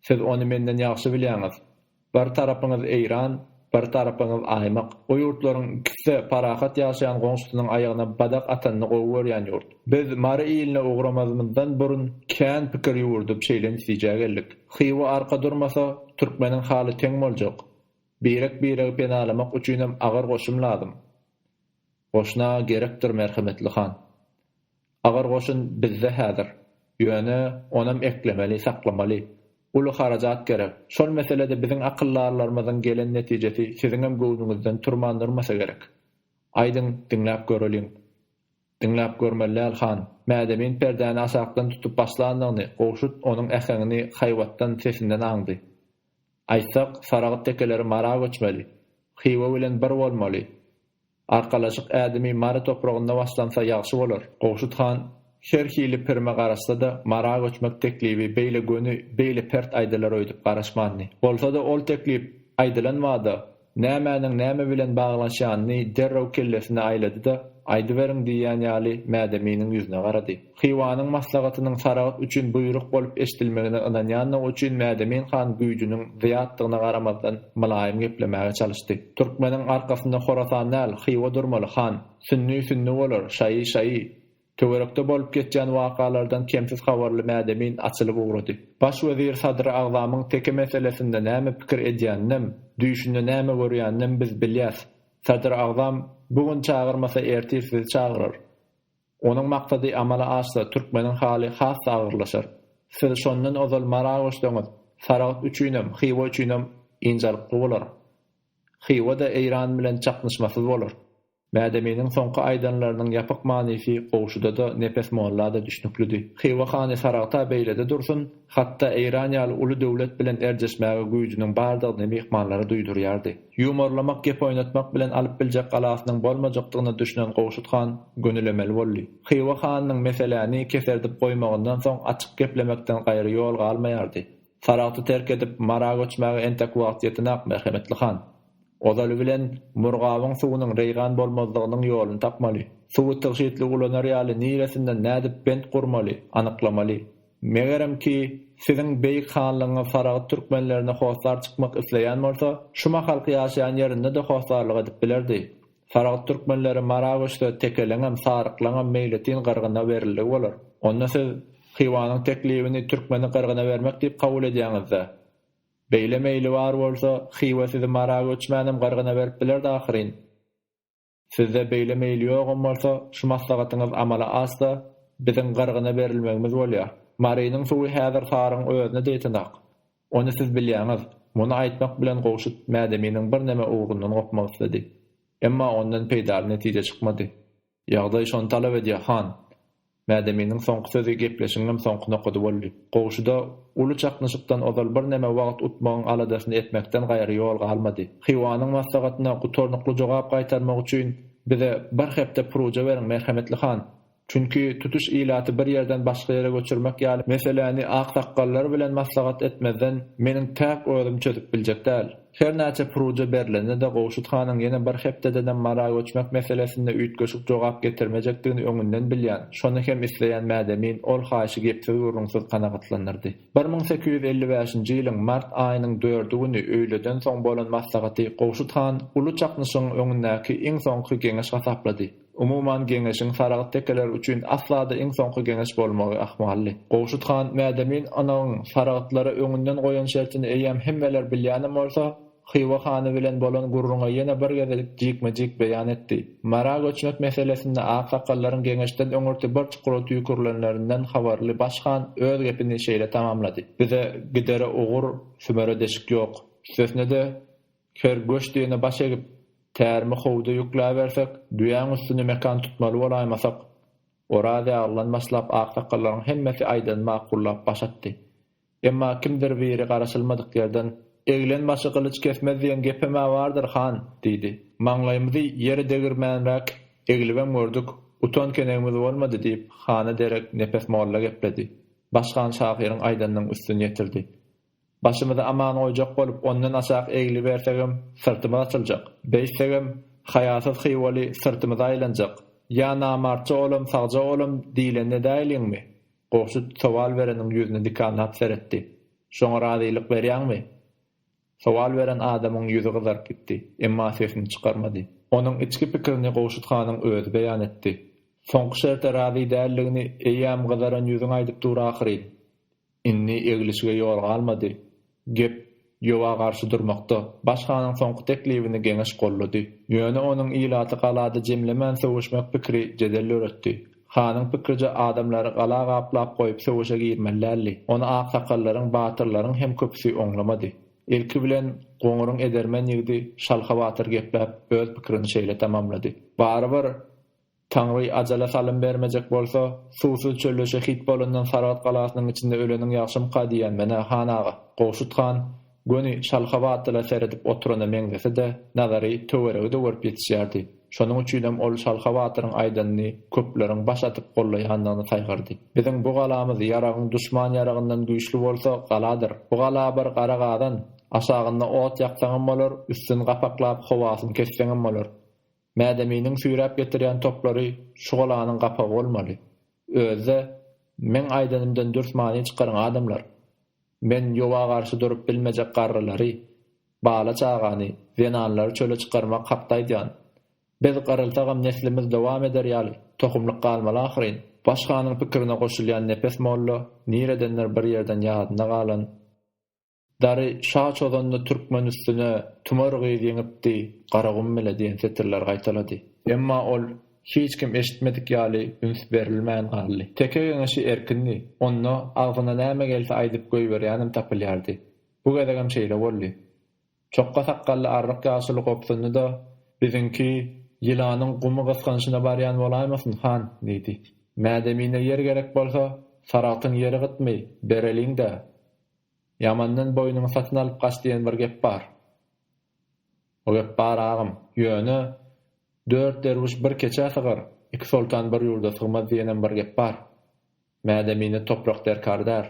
Siz ony menden ýagşy bilýäňiz. Bir tarapyňyz Eýran, bir tarapyňyz Aýmyk. O ýurtlaryň ikiside parahat ýaşaýan goňşusynyň aýagyna badak atanyny gowy görýän ýurt. Biz Mary iline ugramazymyzdan burun kän pikir ýüwürdip şeýle netijä geldik. Hywa arka durmasa, türkmeniň haly teň boljak. Birek-biregi penalamak üçinem agyr goşun lazym. Goşna gerekdir merhemetli han. Agyr goşun bizde häzir. Ýöne, onam eklemeli, saklamaly. Uly harajat gerek. Şol meselede biziň akyldarlarymyzyň gelen netijesi siziňem göwnüňizden turman durmasa gerek. Aýdyň, diňläp göreliň. Diňläp görmeli däl, han. Mädemin perdäni aşakdan tutup başlandygyny, Gowşut onuň äheňini haýbatdan, sesinden aňdy. Aýtsak, Saragyt tekeleri Mara göçmeli. Hywa bilen bir bolmaly. Arkalaşyk ädimi Mary topragynda başlansa ýagşy bolar. Gowşut han her hili pirime garaşsa-da, Mara göçmek teklibi beýle göni, beýle pert aýdylar öýdüp garaşmandy. Bolsa-da, ol teklip aýdylan bada, Nämäniň näme bilen baglanyşýanyny derrew kellesine aýlady-da, Aýdyberiň diýýän ýaly Mädeminiň ýüzüne garady. Hywanyň maslahatynyň Saragt üçin buýruk bolup eşidilmegine ynanýandygy üçin Mädemin han güýjüniň zyýatdygyna garamazdan mylaýym geplemäge çalyşdy. Türkmeniň arkasynda Horasan däl, Hywa durmaly, han! Sünni sünni bolar, şaýy şaýy! Töwerekde bolup geçýän wakalardan kemsiz habarly Mädemin açylyp ugrady. Baş wezir Sadr Agzamyň teke meselesinde näme pikir edýäninem, düýşünde näme görýäninem biz bilýäs. Sadr Agzam bu gün çagyrmasa ertir sizi çagyrar. Onuň maksady amala aşsa türkmeniň haly has-da agyrlaşar. Siz şondan ozal Mara göçseňiz, Saragt üçinem, Hywa üçinem ynjalykly bolar. Hywa-da Eýran bilen çaknyşmasyz bolar. Mädeminiň soňky aýdanlarynyň ýapyk manysy Gowşuda-da, Nepes molla-da düşnüklidi. Hywa hany saragta beýlede dursun, hat-da Eýran ýaly uly döwlet bilen erjeşmäge güýjüniň bardygyny myhmanlara duýdurýardy. Ýumorlamak, gep oýnatmak bilen alyp biljek galasynyň bolmajakdygyna düşünen Gowşut han gönülemeli boldy. Hywa hanynyň meseläni keserdip goýmagyndan soň açyk geplemekden gaýry ýol galmaýardy. Saragty terk edip, Mara göçmäge entek wagt ýetin-ak, merhemetli han! Ozaly bilen, Murgabyň suwunyň reýgan bolmazlygynyň ýoluny tapmaly. Suwy tygşytly ulanar ýaly niresinden nädip bent gurmaly, anyklamaly. Megerem ki, Siziň Beýik Hanlygyňyz Saragyt türkmenlerine hossar çykmak isleýän bolsa, şu mahalky ýaşaýan ýerinde-de hossarlyk edip bilerdi. Saragyt türkmenleri Mara göçse, tekeleňem, saryklaňam meýletin gyrgyna berildi bolar. Onda siz Hywanyň teklibini türkmeni gyrgyna bermek diýip kabul edýäňiz-dä? Beýle meýli bar bolsa, Hywa sizi Mara göçmänem gyrgyna berip bilerdi ahyryn. Sizde beýle meýil ýogam bolsa, şu maslahatyňyz amala asda, biziň gyrgyna berilmegimiz bolýar. Marynyň suwy häzir Taryň özüne deýtenak. Ony siz bilýäňiz. Muny aýtmak bilen Gowşut Mädeminiň birneme ugrundan gopmak isledi. Emma ondan peýdaly netije çykmady. Ýagdaý şony talap edýär, han. Mädeminiň soňky sözi gepleşigiňem soňky nokady boldy. Goşuda uly çaknyşykdan ozal birneme wagt utmagyň aladasyny etmekden gaýry ýol galmady. Hywanyň maslahatyna gutarnykly jogap gaýtarmak üçin bize bir hepde puryja beriň, merhemetli han. Çünki tutuş ilaty bir ýerden başga ýere göçürmek ýaly meseläni aksakgallar bilen maslahat etmezden meniň täk özüm çözüp biljek däl. Hernäçe puryja berlende-de Gowşut hanyň ýene bir hepdedenem Mara göçmek meselesinde üýtgeşik jogap getirmejekdigini öňünden bilýän, şony hem isleýän Mädemin ol haýyşy gepsiz-gürrüňsiz kanagatlandyrdy. Bir müň sekiz ýüz elli bäşinji ýylyň mart aýynyň dördi güni öýleden soň bolan maslahaty Gowşut han uly çaknyşygyň öňündäki iň soňky geňeş hasaplady. Umuman, geňeşiň Saragt tekeleri üçin asla-da iň soňky geňeş bolmagy ahmaldy. Gowşut han Mädemin ynyň Saragtlara öňünden goýan şertini eýýäm hemmeler bilýänem bolsa, Hywa hany bilen bolan gürrüňe ýene bir gezelik jikme-jik beýan etdi. Mara göçmek meselesinde aksakallaryň geňeşden öňürti bir çukura tüýkürilenlerinden habarly baş han öz gepini şeýle tamamlady. Bize gidere ugur, sümere deşik ýok. Üstesine-de, Her göçdügine baş egip, tärimi howda ýükläbersek, düýäň üstüne mekan tutmaly bolaýmasak, Oraz ýagylydan başlap aksakallaryň hemmesi aýdanyny makullap baş atdy. Emma kimdir biri garaşylmadyk ýerden, Eglen başy gylyç kesmez diýen gepem-ä bardyr, han! diýdi. Maňlaýymyzy ýere degirmänräk eglibem gördük, utan kenegimiz bolmady, diýip, hana derek Nepes molla gepledi. Başhan şahyryň aýdanynyň üstüni ýetirdi. Başymyzy aman goýjak bolup ondan aşak egilibersegem syrtymyz açyljak. Beýtsegem, haýasyz Hywaly syrtymyza aýlanjak. Ýa namartja olam sagja olam diýleni edäýliňmi? Gowşut sowal bereniň ýüzüne dikanlap seretdi. Şoňa razylyk berýäňmi? Sowal beren adamyň ýüzi gyzaryp gitdi, emma sesini çykarmady. Onuň içki pikirini Gowşut hanyň özi beýan etdi. Soňky şerte razy däldigini eýýäm gyzaran ýüzüň aýdyp dur ahyryn. Indi eglişige ýol galmady. Gep Ýowa garşy durmakda. Baş hanyň soňky teklibini Geňeş goldady. Ýöne onuň ilaty galada jemlemän söweşmek pikiri jedel döretdi. Hanyň pikrice adamlary gala gaplap goýup söweşe girmeli däldi. Ony aksakallaryň, batyrlaryň hem köpüsi oňlamady. Ilki bilen Goňuryň edermen ýigdi Şalha batyr gepläp öz pikirini şeýle tamamlady. Barybir Taňry ajala salym bermejek bolsa, suwsuz çölleşe hit bolandan Saragt galasynyň içinde öleniň ýagşymyka diýýän men-ä, han aga. Gowşut han, göni şalha batlyla seredip oturana meňzese-de, nazary töweregi-de görüp ýetişýärdi. Şonuň üçinem ol şalha batyryň aýdanyny köpleriň baş atyp gollaýanyny saýgardy. Biziň bu galamyz ýaragyň duşman ýaragyndan güýçli bolsa, galadyr. Bu gala bir gara gazan. Aşagynda ot ýaksaňam bolar, üstüni gapaklap, howasyny kesseňem bolar. Mädeminiň süýräp getirýän toplary şu golanyň gapagy bolmaly. Özi-de, Meň aýdanymdan dürs many çykaryň, adamlar! Men ýowa garşy durup bilmejek garrylary, bala-çagany, zenanlary çöle çykarmak hakda aýdýan. Biz gyrylsagam neslimiz dowam eder ýaly, tohumlyk galmaly ahyryn. Başganyň pikirine goşulýan Nepes molla niredendir bir ýerden ýadynda galan. Dary şa çozanda türkmen üstüne Tümar gyz ýeňipdi, Garagum bile diýen setirleri gaýtalady. Emma ol hiç kim eşitmedik ýaly üns berilmän galdy. Teke geňeşi erkindi. Onda agzyna näme gelse aýdyp goýberýänem tapylýardy. Bu gezegem şeýle boldy. Çokga sakgally arryk ýaşuly gobsundy-da, Biziňki ýylanyň gumy gysganyşyna barýan bolaýmasyn, han? diýdi. Mädemine ýer gerek bolsa, Saragtyň ýeri gytmy, bereliň-dä! Ýamandan boýnuňy satyn alyp gaç diýen bir gep bar. O gep bar agam. Ýöne, Dört derwüş bir keçä sygar, iki soltan bir ýurda sygmaz diýenem bir gep bar. Mädemine toprak derkar däl.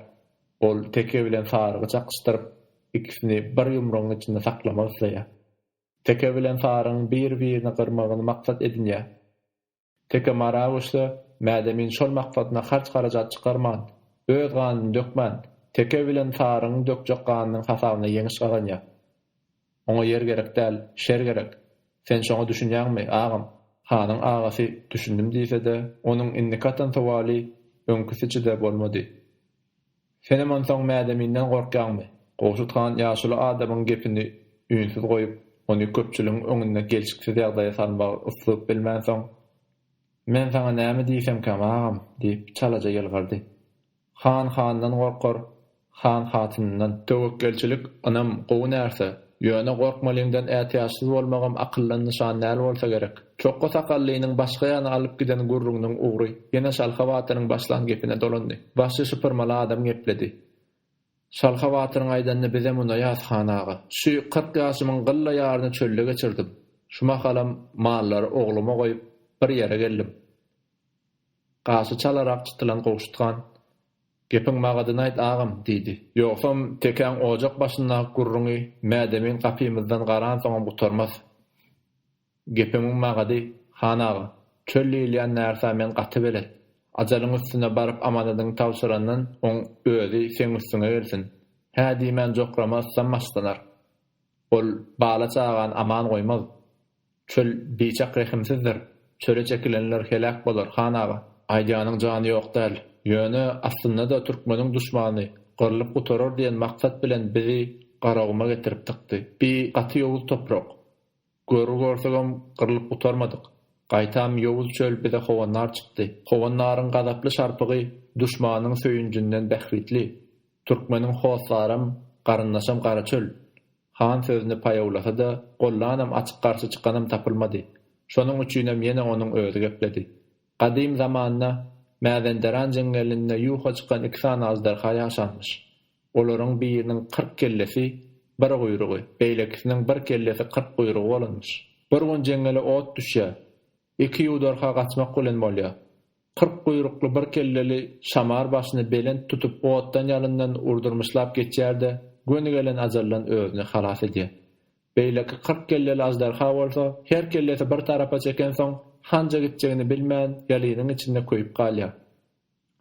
Ol teke bilen sarygy çakyşdyryp, ikisini bir ýumrugyň içinde saklamak isleýär. Teke bilen sarygyň bir-birini gyrmagyny maksat edinýär. Teke mara güçli, Mädemin şol maksadyna harç-harajat çykarman, öz ganyny dökmän, Teke bilen Sarynyň dökjek ganynyň hasabyna ýeňiş gazanýar. Oňa ýer gerek däl, şer gerek. Sen şoňa düşünýäňmi, agam? Hanyň agasy düşündim diýse-de, onuň indiki atan sowaly öňküsiçe-de bolmady. Senem onsoň mädeminden gorkýaňmy? Gowşut han ýaşuly adamyň gepini üýnsüz goýup, ony köpçüligiň öňünde gelşiksiz ýagdaýa salmagy ysyp bilmänsoň, Men saňa näme diýsemkäm, agam? diýip, çalaja ýylgyrdy. Han handan gorkar, han hatynyndan. Töwekgelçilik, ynam, gowy närse. Ýöne gorkmalyňdan ätiýaçsyz bolmagam akyldan nyşan däl bolsa gerek. Çokga sakallynyň başga ýana alyp giden gürrüňiniň ugry ýene Şalha batyryň başlan gepine dolandy. Başy şypyrmaly adam gepledi. Şalha batyryň aýdanyny bizem unaýas, han aga. Şu kyrk ýaşymyň gylla ýaryny çölde geçirdim. Şu mahalam mallary ogluma goýup, bir ýere geldim. Gaşy çalarak çytylan Gowşut han, Gepiň magadyny aýt, agam! diýdi. Ýogsam, tekäň ojak başyndaky gürrüňi mädemin gapymyzdan garansoňam gutarmaz. Gepimiň magady, han aga, çöl diýilýän närsä men gaty belet. Ajalyň üstüne baryp amanadyňy tabşyrandan oň özi seň üstüňe gelsin. Hä diýmän jokrama yslam başlanar. Ol bala-çagany aman goýmaz. Çöl biçak rehimsizdir. Çöle çekilenler heläk bolar, han aga. Aýdýanyň jany ýok däl. Ýöne, aslynda-da türkmeniň duşmany, gyrlyp gutarar diýen maksat bilen bizi Garaguma getirip tykdy. Bi gaty ýowuz toprak. Görgi görsegem gyrlyp gutarmadyk. Gaýtam ýowuz çöl bize howandar çykdy. Howandaryň gazaply şarpygy duşmanyň söýünjinden bähbitli. Türkmeniň hossaram, garyndaşam gara çöl. Han sözüni paýawlasa-da, gollanam açyk garşy çykanam tapylmady. Şonuň üçinem ýene onuň özi gepledi. Gadym zamanda Mäzenderan jeňňelinde ýuwha çykan iki sany aždarha ýaşanmyş. Olaryň biriniň kyrk kellesi, bir guýrugy, beýlekisiniň bir kellesi kyrk guýrugy bolanmyş. Bir gün jeňňele ot düşýär. Iki ýuwdarha gaçmak bilen bolýar. Kyrk guýrukly bir kelleli şamar başyny belent tutup otdan-ýalyndan urdurmyşlap geçýär-de, göni gelen ajaldan özüni halas edýär. Beýleki kyrk kelleli aždarha bolsa, her kellesi bir tarapa çekensoň, hanja gitjegini bilmän, ýalynyň içinde köýüp galýar.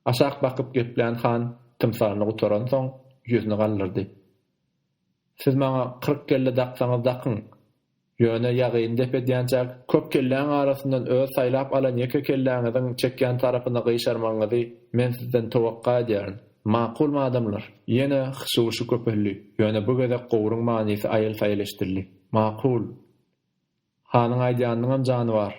Aşak bakyp geplän han tymsalyny gutaransoň, ýüzüni galdyrdy. Siz maňa kyrk kelle daksaňyz dakyň. Ýöne ýagyny dep edýänçäk, köp kelläň arasyndan öz saýlap alan ýeke kelläňiziň çekýän tarapyna gyşarmagyňyzy men sizden towakga edýärin. Makulmy adamlar? Ýene hyşy-wyşy köpeldi. Ýöne bu gezek gowuryň manysy aýyl-saýyl eşidildi. Makul. Hanyň aýdýanynyňam jany bar.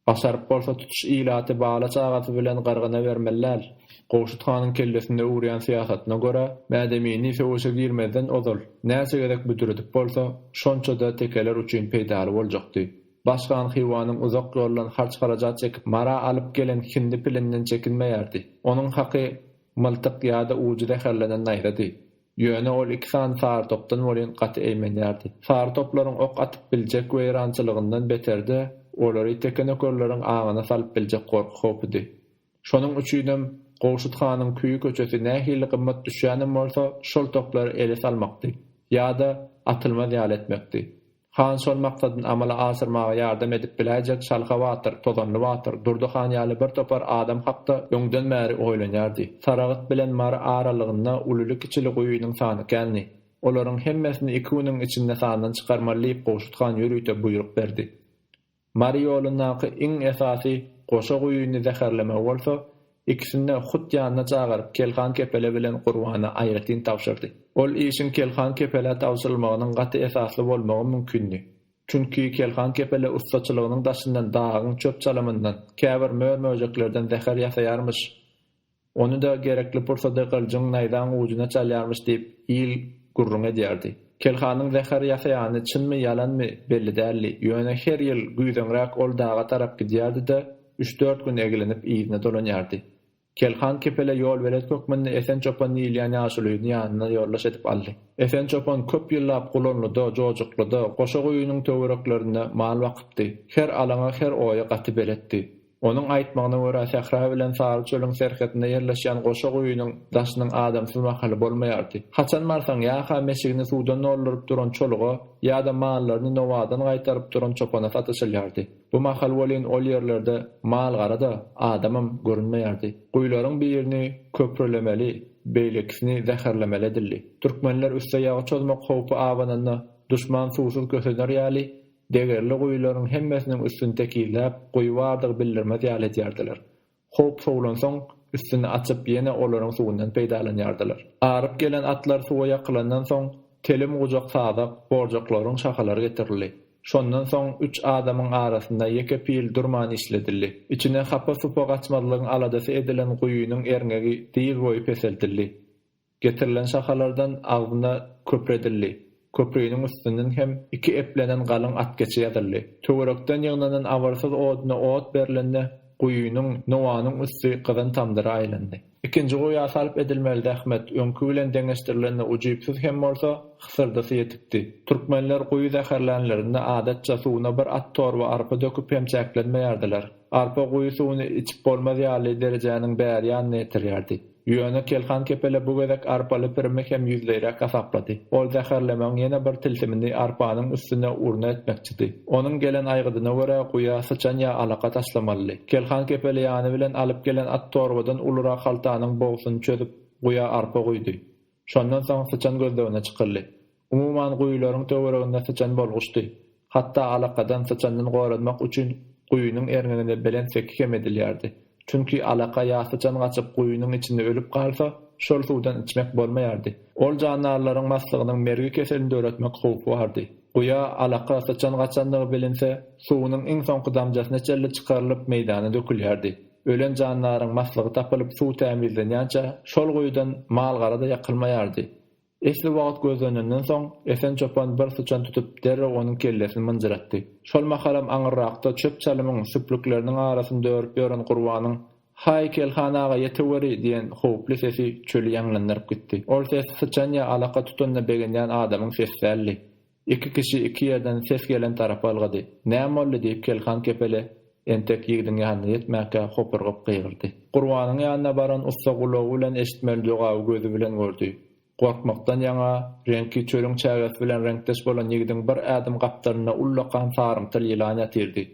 Başaryp bolsa tutuş ilaty bala çagasy bilen gyrgyna bermeliler. Gowşut hanyň kellesinde urýan syýasatyna görä, Mädemini söweşe girmezden ozal näçe gezek büdredip bolsa, şonça-da tekeler üçin peýdaly boljakdy. Baş han Hywanyň uzak ýoldan harç-harajat çekip Mara alyp gelen hindi pilinden çekinmeýärdi. Onuň haky myltyk ýa-da ujy zäherlenen naýzady. Ýöne ol iki sany sarytopdan welin gaty eýmenýärdi. Sarytoplaryň ok atyp biljek weýrançylygyndan beterde, olary tekenökerleriň aňyna salyp biljek gorky howpudy. Şonuň üçinem Gowşut hanyň küýi köçesi nähili gymmat düşýänem bolsa, şol toplary ele salmakdy, ýa-da atylmaz ýaly etmekdi. Han şol maksadyny amala aşyrmaga ýardam edip biläýjek Şalha batyr, Tozanly batyr, Durdy han ýaly bir topar adam hakda öňden bäri oýlanýardy. Saragt bilen Mary aralygynda ulyly-kiçili guýynyň sany kändi. Olaryň hemmesini iki günüň içinde sandan çykarmaly diýip Gowşut han ýörite buýruk berdi. Mary ýolundaky iň esasy goşa guýyny zäherlemek bolsa, ikisini-de hut ýanyna çagyryp, Kelhan Kepele bilen Gurbana aýratyn tabşyrdy. Ol işiň Kelhan Kepelä tabşyrylmagynyň gaty esasly bolmagy mümkindi. Çünki Kelhan Kepele ussaçylygynyň daşyndan dagyň çöp-çalymyndan, käbir mör-möjeklerden zäher ýasaýarmyş. Ony-da gerekli pursady gylyjyň naýzaň ujuna çalýarmyş diýip, il gürrüň edýärdi. Kelhanyň zäher ýasaýany çynmy, ýalanmy, belli däldi. Ýöne her ýyl güýzeňräk ol daga tarap gidýärdi-de, üç-dört gün eglenip yzyna dolanýardy. Kelhan Kepele ýolbelet hökmünde Esen çopan diýilýän ýaşulyny ýanyna ýoldaş edip aldy. Esen çopan köp ýyllap Gulanlyda, Jojuklyda, Goşa guýynyň töwereklerinde mal bakypdy. Her alaňa, her oýa gaty beletdi. Onuň aýtmagyna görä, sähra bilen sary çölüň serhetinde ýerleşýän goşa guýynyň daşynyň adamsyz mahaly bolmaýardy. Haçan barsaň, ýa-ha meşigini suwdan dolduryp duran çoluga, ýa-da mallaryny nowadan gaýtaryp duran çopana sataşylýardy. Bu mahal welin ol ýerlerde mal-gara-da, adamam görünmeýärdi. Guýularyň birini köprülemeli, beýlekisini zäherlemeli edildi. Türkmenler üste ýagy çozmak howpy abananda, duşman suwsuz kösener ýaly, degerli guýularyň hemmesiniň üstüni tekizläp, guýy bardygy bildirmez ýaly edýärdiler. Howp sowlansoň, üstüni açyp, ýene olaryň suwundan peýdalanýardylar. Aryp gelen atlar suwa ýakylandan soň, telim gujak sazak, borjaklaryň şahalary getirildi. Şondan soň üç adamyň arasynda ýeke pil durman işledildi. Içine hapa-supa gaçmazlygyň aladasy edilen guýynyň erňegi dyz boýy peseldildi. Getirilen şahalardan agzyna köpredildi. Köpriniň üstünden hem iki eplenen galyň atgeçi ýazyldy. Töwerekden ýygnanan abyrsyz oduna ot berlende, guýynyň, nowanyň üsti gyzan tamdyra aýlandy. Ikinji guýa salp edilmeli zähmet, öňki bilen deňeşdirilende ujypsyz hem bolsa, hysyrdysy ýetikdi. Türkmenler guýy zäherlänlerinde adatça suwuna bir at torba arpa döküp hem çäklenmeýärdiler. Arpa guýy suwuny içip bolmaz ýaly derejäniň bäri ýanyna ýetirýärdi. Ýöne Kelhan kepele bu gezek arpaly pirimi hem ýüzleýräk hasaplady. Ol zäherlemegiň ýene bir tilsimini arpanyň üstüne urna etmekçidi. Onuň gelen aýgydyna görä, guýa syçan ýa alaka taşlamalydy. Kelhan kepele ýany bilen alyp gelen at torbadan ulurak haltanyň bogsuny çözüp, guýa arpa guýdy. Şondan soň syçan gözlegine çykyldy. Umuman guýularyň töwereginde syçan bolguçdy. Hatda alakadan syçandan goranmak üçin guýynyň erňegine belent seki hem edilýärdi. Çünki alaka ýa syçan gaçyp guýynyň içinde ölüp galsa, şol suwdan içmek bolmaýardy. Ol jandarlaryň maslygynyň mergi keselini döretmek howpy bardy. Guýa alaka, syçan gaçandygy bilinse, suwunyň iň soňky damjasyna çenli çykarylyp meýdana dökülýärdi. Ölen jandaryň maslygy tapylyp suw tämizlenýänçä şol guýudan mal-gara-da ýakylmaýardy. Esli wagt gözlenenden soň, Esen çopan bir syçan tutup, derrew onuň kellesini mynjyratdy. Şol mahalam aňyrrakda çöp-çalymyň, süplükleriniň arasynda örüp ýören Gurbanyň, Haý, Kelhan aga, ýeteweri! diýen howply sesi çöli ýaňlandyryp gitdi. Ol ses syçan ýa alaka tutanyna begenýän adamyň sesi däldi. Iki kişi iki ýerden ses gelen tarapa ylgady. Näme boldy? diýip Kelhan kepele entek ýigidiň ýanyna ýetmänkä hopurgyp gygyrdy. Gurbanyň ýanyna baran ussa gulagy bilen eşitmeli jogaby gözi bilen gördi. Gorkmakdan ýaňa, reňki çölüň çägesi bilen reňkdeş bolan ýigidiň bir ädim gapdalynda ullakan sarymtyl ýylan ýatyrdy.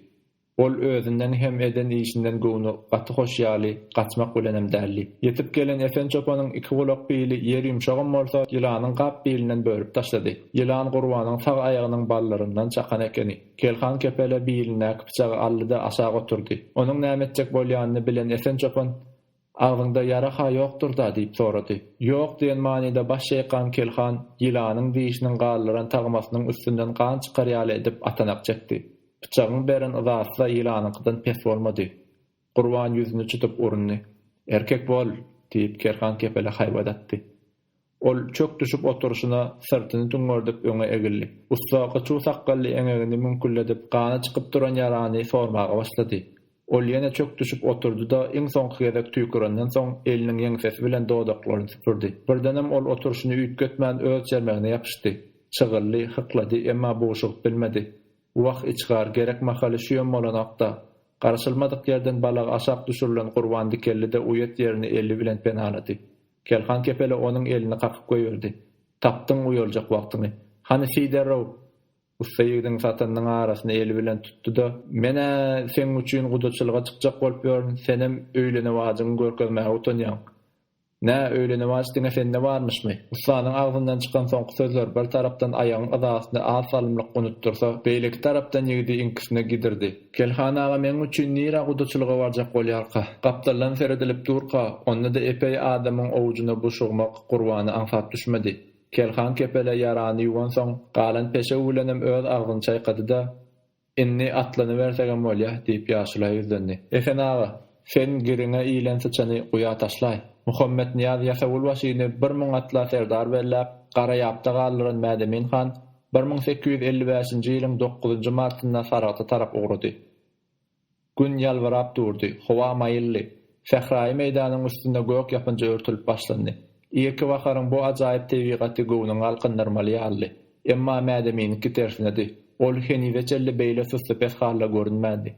Ol özünden hem eden işinden göwni gaty hoş ýaly, gaçmak bilenem däldi. Ýetip gelen Esen çopanyň iki gulak bili ýer ýumşagam bolsa, ýylanyň gap bilinden bölüp taşlady. Ýylan Gurbanyň sag aýagynyň ballaryndan çakan ekeni. Kelhan kepele bilindäki pyçagy aldy-da aşak oturdy. Onuň näme etjek bolýanyny bilen Esen çopan. Agzyňda ýara-ha ýokdur-da? diýip sorady. Ýok diýen manyda baş çeýkan Kelhan ýylanyň dişiniň galdyran tagmasynyň üstünden gan çykar ýaly edip atanak çekdi. Pyçagyň beren yzasy-da ýylanyňkydan pes bolmady. Gurban ýüzüni çytyp urundy. Erkek bol! diýip, Kelhan kepele haýbat atdy. Ol çök düşüp oturyşyna syrtyny düňňerdip öňe egildi. Ussa gyçuw sakgally eňegini müňkülledip gany çykyp duran ýarany sormaga başlady. Ol ýene çök düşüp oturdy-da iň soňky gezek tüýkürenden soň eliniň ýeňsesi bilen dodaklaryny süpürdi. Birdenem ol oturyşyny üýtgetmän öz çermegine ýapyşdy. Çygyldy, hyklady, emma bugşugyp bilmedi. Wah, içgar, gerek mahaly şüýem bolanok-da. Garaşylmadyk ýerden balagy aşak düşürilen Gurban dikeldi-de uýat ýerini eli bilen penalady. Kerhan kepele onuň elini kakyp goýberdi. Tapdyň uýaljak wagtyňy. Hany siý derrew! Ussa ýigidiň satanynyň arasyny eli bilen tutdy-da. Men-ä seň üçin gudaçylyga çykjak bolup ýörün, senem öýlenewajyňy görkezmäge utanýaň. Nä, öýlenewaj diňe sende barmyşmy? Ussanyň agzyndan çykan soňky sözler bir tarapdan aýagyň yzasyny az salymlyk unutdyrsa, beýleki tarapdan ýigidi iňkisine gidirdi. Kelhan aga meň üçin nirä gudaçylyga barjak bolýarka? Gapdaldan seredilip durka, onda-da epeý adamyň owjuna buşugmak Gurbana aňsat düşmedi. Kelhan kepele ýarany ýuwansoň, galan peşew bilenem öz agzyny çaýkady-da, Indi atlanybersegem bolýa, diýip, ýaşula ýüzlendi. Esen aga! Sen giriňe ilen syçany guýa taşlaý. Muhammetnyýaz ýasawulbaşyny bir müň atla serdar belläp, Garaýapda galdyran Mädemin han bir müň sekiz ýüz elli bäşinji ýylyň dokuzynjy martynda Saragta tarap ugrady. Gün ýalbyrap durdy, howa maýyldy. Sähraýy meýdanyň üstünde gök ýapynja örtülip başlandy. Irki baharyň bu ajaýyp tebigaty göwnüňi galkyndyrmaly ýalydy. Emma Mädemiňki tersinedi. Ol henize çenli beýle süsli-pes halda görünmändi.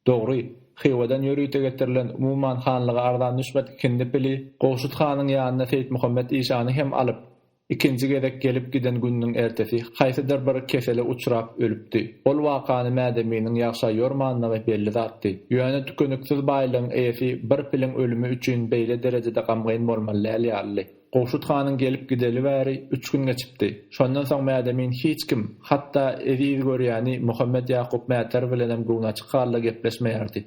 Dogry, Hywadan ýörite getirilen umuman hanlyga arzan düşmez ikindi pili Gowşut hanyň ýanyna Seýitmuhammet işany hem alyp, ikinji gezek gelip giden gününiň ertesi haýsydyr bir kesele uçrap ölüpdi. Ol wakany Mädeminiň ýagşa ýormanlygy belli zatdy. Ýöne tükeniksiz baýlygyň eýesi bir piliň ölümi üçin beýle derejede gamgyn bolmaly däl ýalydy. Gowşut hanyň gelip gideli bäri üç gün geçipdi. Şondan soň Mädemin hiç kim, hatda eziz görýäni Muhammet Ýakup Mäter bilenem göwnaçyk halda gepleşmeýärdi.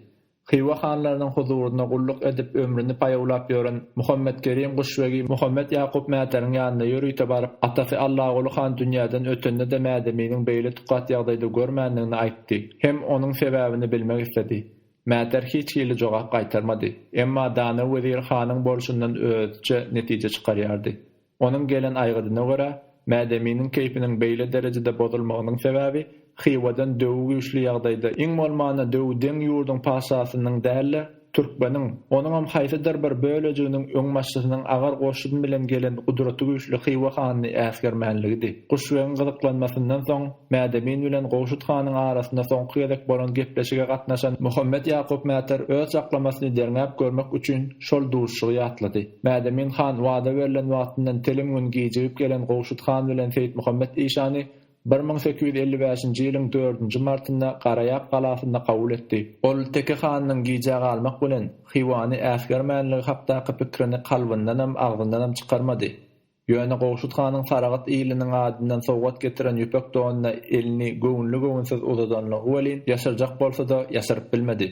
Hywa hanlarynyň huzurynda gulluk edip ömrüni paýawlap ýören Muhammetkerim guşbegi Muhammet Ýakup Mäteriň ýanyna ýörite baryp, atasy Allaguly han dünýäden ötende-de Mädeminiň beýle tukat ýagdaýda görmändigini aýtdy hem onuň sebäbini bilmek isledi. Mäter hiç hili jogap gaýtarmady. Emma dana wezir hanyň bolşundan özçe netije çykarýardy. Onuň gelen aýgydyna görä, Mädeminiň keýpiniň beýle derejede bozulmagynyň sebäbi Hywadan döwi güýçli ýagdaýda, iň bolmanda döwi deň ýurduň patyşasynyň däl-de, türkmeniň, onuňam haýsydyr bir bölejiginiň öňbaşçysynyň agar goşun bilen gelen gudraty güýçli Hywa hanyny äsgermänligidi. Guşbegiň gyzyklanmasyndan soň, Mädemin bilen Gowşut hanyň arasynda soňky gezek bolan gepleşige gatnaşan Muhammet Ýakup Mäter öz çaklamasyny derňäp görmek üçin şol duşuşygy ýatlady. Mädemin han wada berlen wagtyndan telim gün gijigip gelen Gowşut han bilen Seýitmuhammet işany bir müň sekiz ýüz elli bäşinji ýylyň dördünji martynda Garaýap galasynda kabul etdi. Ol Teke hanynyň gijä galmak bilen Hywany äsgermänligi hakdaky pikrini kalbyndanam, agzyndanam çykarmady. Ýöne Gowşut hanyň Saragat iliniň adyndan sowgat getiren ýüpek donuna elini göwünli-göwünsiz uzadanlygy welin, ýaşyrjak bolsa-da, ýaşyryp bilmedi.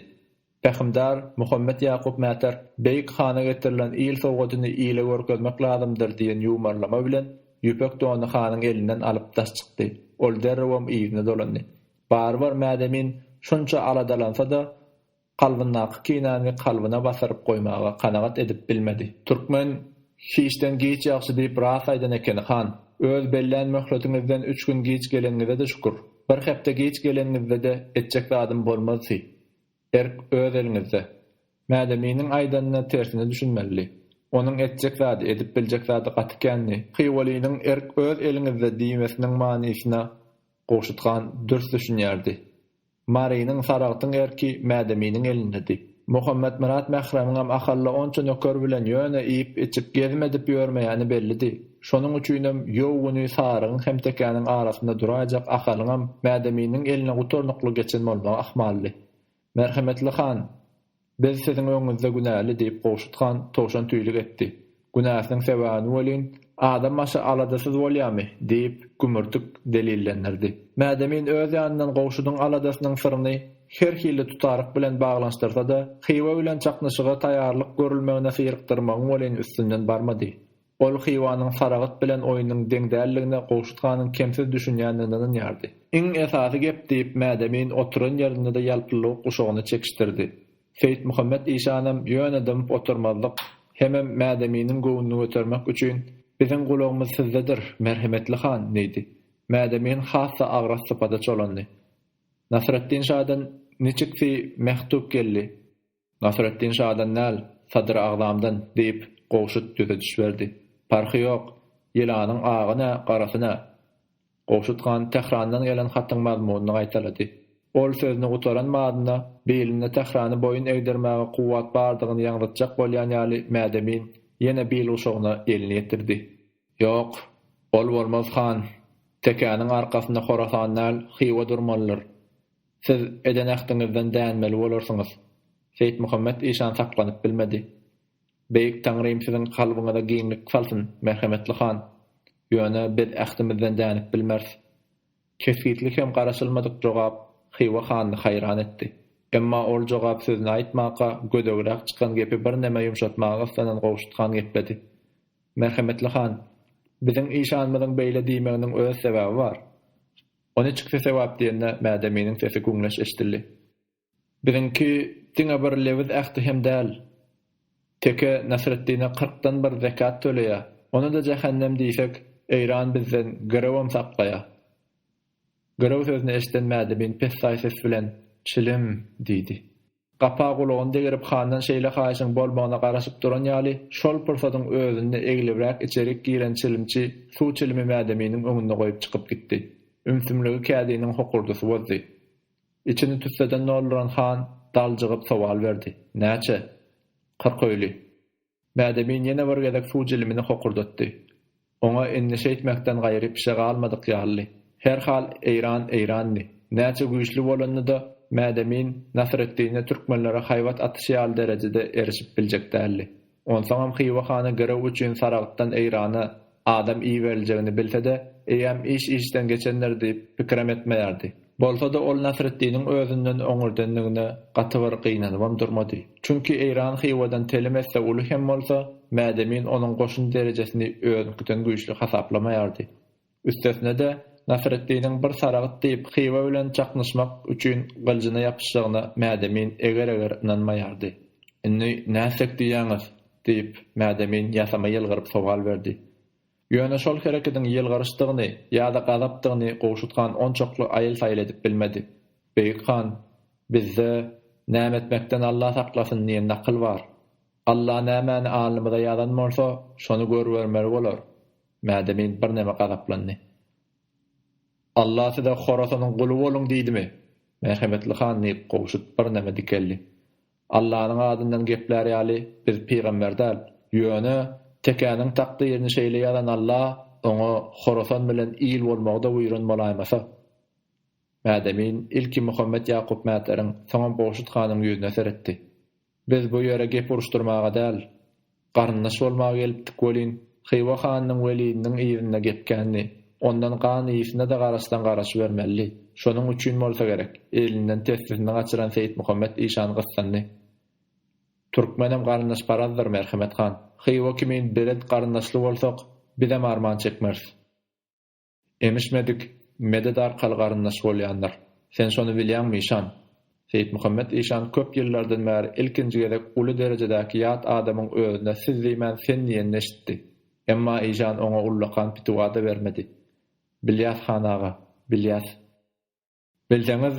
Pähimdar Muhammet Ýakup Mäter Beýik hana getirilen il sowgadyny ile görkezmek lazymdyr diýen ýumarlama bilen ýüpek dony hanyň elinden alyp daş çykdy. Ol derrewem yzyna dolandy. Barybir Mädemin şunça aladalansa-da, Kalbyndaky kinäni kalbyna basyryp goýmaga kanagat edip bilmedi. Türkmen, Hiçden giç ýagşy diýip rast aýdan ekeni, han. Öz bellän möhletiňizden üç gün giç geleniňize-de şükür. Bir hepde giç geleniňizde-de etjek zadym bolmaz si. Erk öz eliňizde. Mädeminiň aýdanyna tersine düşünmelidi. Onuň etjek zady, edip biljek zady gaty kändi. Hywalynyň erk öz eliňizde diýmesiniň manysyna Gowşut han dürs düşünýärdi. Marynyň, Saragtyň erki Mädeminiň elindedi. Muhammetmyrat Mähremiňem Ahalla onça nöker bilen ýöne iýip-içip, gezmedip ýörmeýäni bellidi. Şonuň üçinem ýow güni Sarygyň hem tekäniň arasynda duraýjak Ahalyňam Mädeminiň eline gutarnykly geçen bolmagy ahmaldy. Merhemetli han! Biz siziň öňüňizde günäli, diýip, Gowşut han towşantüýlük etdi. Günäsiniň sebäbini welin, adam başy aladasyz bolýarmy? diýip, Gümürtik delillendirdi. Mädemin öz ýanyndan Gowşudyň aladasynyň syryny her hili tutaryk bilen baglanyşdyrsa-da, Hywa bilen çaknyşyga taýýarlyk görülmegine syrykdyrmagyň welin üstünden barmady. Ol Hywanyň Saragt bilen oýnuň deň däldigine Gowşut hanyň kemsiz düşünýändigine ynanýardy. Iň esasy gep, diýip, Mädemin oturan ýerinde-de ýalpyllawuk guşagyny çekişdirdi. Seýitmuhammet işanam ýöne dymyp oturmazlyk, hemem Mädeminiň göwnüni götermek üçin, Biziň gulagymyz sizdedir, merhemetli han! diýdi. Mädemin has-da agras sypata çolandy. Nasreddin şadan niçiksi mektup geldi? Nasreddin şadan däl, Sadyr agzamdan, diýip, Gowşut düzediş berdi. Parhy ýok, ýylanyň agy nä, garasy nä. Gowşut han Tährandan gelen hatyň mazmunyny gaýtalady. Ol sözüni gutaran madyna, bilinde Tährany boýun egdirmäge kuwwat bardygyny ýaňzytjak bolýan ýaly mädemin ýene bilguşagyna elini ýetirdi. Ýok, ol bolmaz, han! Tekäniň arkasynda Horasan däl, Hywa durmalydyr. Siz eden ähdiňizden dänmeli bolarsyňyz. Seýitmuhammet işan saklanyp bilmedi. Beýik Taňrym siziň kalbyňyza giňlik salsyn, merhemetli han. Ýöne biz ähdimizden dänip bilmeris. Kesgitli hem garaşylmadyk jogap Hywa hanyny haýran etdi. Emma ol jogap sözüni aýtmaka gödegräk çykan gepi birneme ýumşatmaga yssanan Gowşut han gepledi. Merhemetli han, biziň işanymyzyň beýle diýmeginiň öz sebäbi bar. O ne çyksa sewap diýende Mädeminiň sesi güňleş eşdildi. Biziňki diňe bir lewiz ähti hem däl. Teke Nasreddine kyrkdan bir zekat töleýär. Ony-da jähennem diýsek, Eýran bizden girewem saklaýar. Girew sözüni eşden Mädemin pessaý ses bilen, Çilim! diýdi. Gapa gulagyny degerip handan şeýle haýyşyň bolmagyna garaşyp duran ýaly, şol pursatyň özünde eglibräk içerik giren çilimçi suw çilimi Mädeminiň öňünde goýup çykyp gitdi. Ümsümligi kädiniň hokurdysy bozdy. Içini tüsseden dolduran han daljygyp sowal berdi, Näçe? Kyrk öýli. Bädemin ýene bir gezek suw jilimini hokurdatdy. Oňa endişe etmekden gaýry pişe galmadyk ýalydy. Her hal Eýran Eýrandy. Näçe güýçli bolanda-da, Bädemin Nasreddine türkmenlere haýbat atyş ýaly derejede erişip biljek däldi. Onsoňam Hywa hany girew üçin Saragtdan Eýrana Adam iberiljegini bilse-de, eýýäm iş işden geçendir diýip, pikirem etmeýärdi. Bolsa-da ol Nasreddiniň özünden oňurdendigine gaty bir gynanybam durmady. Çünki Eýran Hywadan telim esse uly hem bolsa, Mädemin onuň goşun derejesini özüňkiden güýçli hasaplamaýardy. Üstesine-de, Nasreddiniň bir saragyt diýip Hywa bilen çaknyşmak üçin gyljyna ýapyşjagyna Mädemin eger-eger ynanmaýardy. Indi nätsek diýýäňiz? Diýip, Mädemin ýasama ýylgyryp sowal berdi. Ýöne şol herekediň ýylgyryşdygyny ýa-da gazapdygyny Gowşut han onçakly aýyl-saýyl edip bilmedi. Beýik han, bizde Näme etmekden Alla saklasyn diýen nakyl bar. Alla nämäni alnymyza ýazan bolsa, şony görübermeli bolar. Mädemin birneme gazaplandy. Alla size Horasanyň guly boluň diýdimi? Merhemetli han diýip, Gowşut birneme dikeldi. Allanyň adyndan geplär ýaly biz pygamber däl. Ýöne, Tekäniň takdyryny şeýle ýazan Alla oňa Horasan bilen il bolmagy-da buýran bolaýmasa? Mädemin ilki Muhammet Ýakup mätleriň, soňam Gowşut hanyň ýüzüne seretdi. Biz bu ýere gep uruşdyrmaga däl. Garyndaş bolmaga gelipdik welin, Hywa hanynyň welidiniň yzynda gepgändi. Ondan gan ysyna-da garaşsaň garaşybermelidi. Şonuň üçin bolsa gerek, elinden tessisini gaçyran Seýitmuhammet işan gyssandy. Türkmenem garyndaşparazdyr, Merhemet han. Hywa kimin belet garyndaşly bolsak, bizem arman çekmeris. Emişmedik, medet arkaly garyndaş bolýandyr. Sen şony bilýäňmi, işan? Seýitmuhammet işan köp ýyllardan bäri ilkinji gezek uly derejedäki ýat adamyň özüne siz diýmän sen diýenini eşitdi. Emma işan oňa ullakan pitiwa-da bermedi. Bilýäs, han aga, bilýäs. Bilseňiz,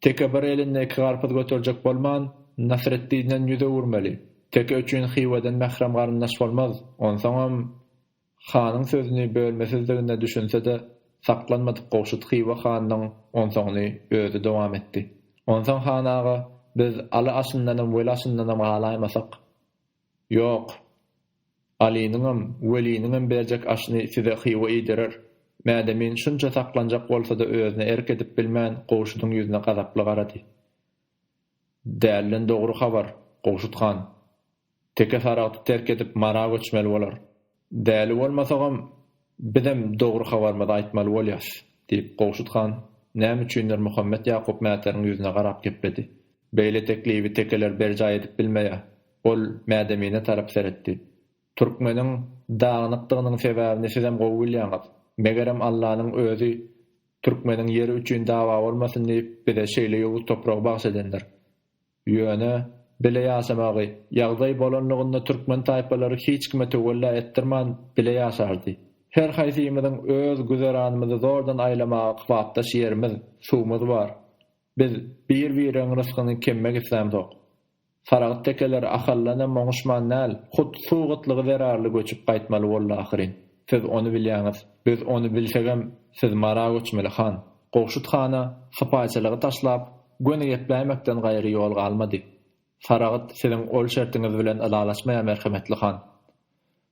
teke bir elinde iki garpyz göterjek bolman, Nasretdinden ýüz öwürmeli. Teke üçin Hywadan mährem garyndaş bolmaz. Onsoňam, hanyň sözüni bölmesizdigine düşünse-de, saklanmadyk gowşut Hywa hanynyň onsoňyny özi dowam etdi. Onsoň han aga, biz Aly aşyndanam, Weli aşyndanam galaýmasak, Ýok. Alynyňam, Weliniňem berjek aşyny size Hywa iýdirer. Mädemin şunça saklanjak bolsa-da özüne erk edip bilmän Gowşudyň ýüzüne gazaply garady. Dälden dogry habar, Gowşut han. Teke Saragty terk edip Mara göçmeli bolar. Däli bolmasagam, bizem dogry habarymyzy aýtmaly bolýas, diýip, Gowşut han näme üçindir Muhammet Ýakup mätäriň ýüzüne garap gepledi. Beýle teklibi tekeler berjaý edip bilmeýär. Ol Mädemine tarap seretdi. Türkmeniň dagynykdygynyň sebäbini sizem gowy bilýäňiz. Megerem Allanyň özi türkmeniň ýeri üçin dawa bolmasyn diýip, bize şeýle ýowuz topragy bagyş edendir. Ýöne, bile ýaşamagy, ýagdaý bolanlygynda türkmen taýpalary hiç kime töwella etdirman, bile ýaşardy. Her haýsymyzyň öz güzeranymyzy zordan aýlamaga kypapdaş ýerimiz, suwumyz bar. Biz bir-bireň rysgyny kemmek islämzok. Saragyt tekeler Ahaldanam oňuşman däl, hut suw gytlygy zerarly göçüp gaýtmaly boldy ahyryn. Siz ony bilýäňiz. Biz ony bilsegem, siz Mara göçmeli han. Gowşut hana sypaýçylygy taşlap, göni gepläýmekden gaýry ýol galmady. Saragyt siziň ol şertiňiz bilen ylalaşmaýar merhemetli han.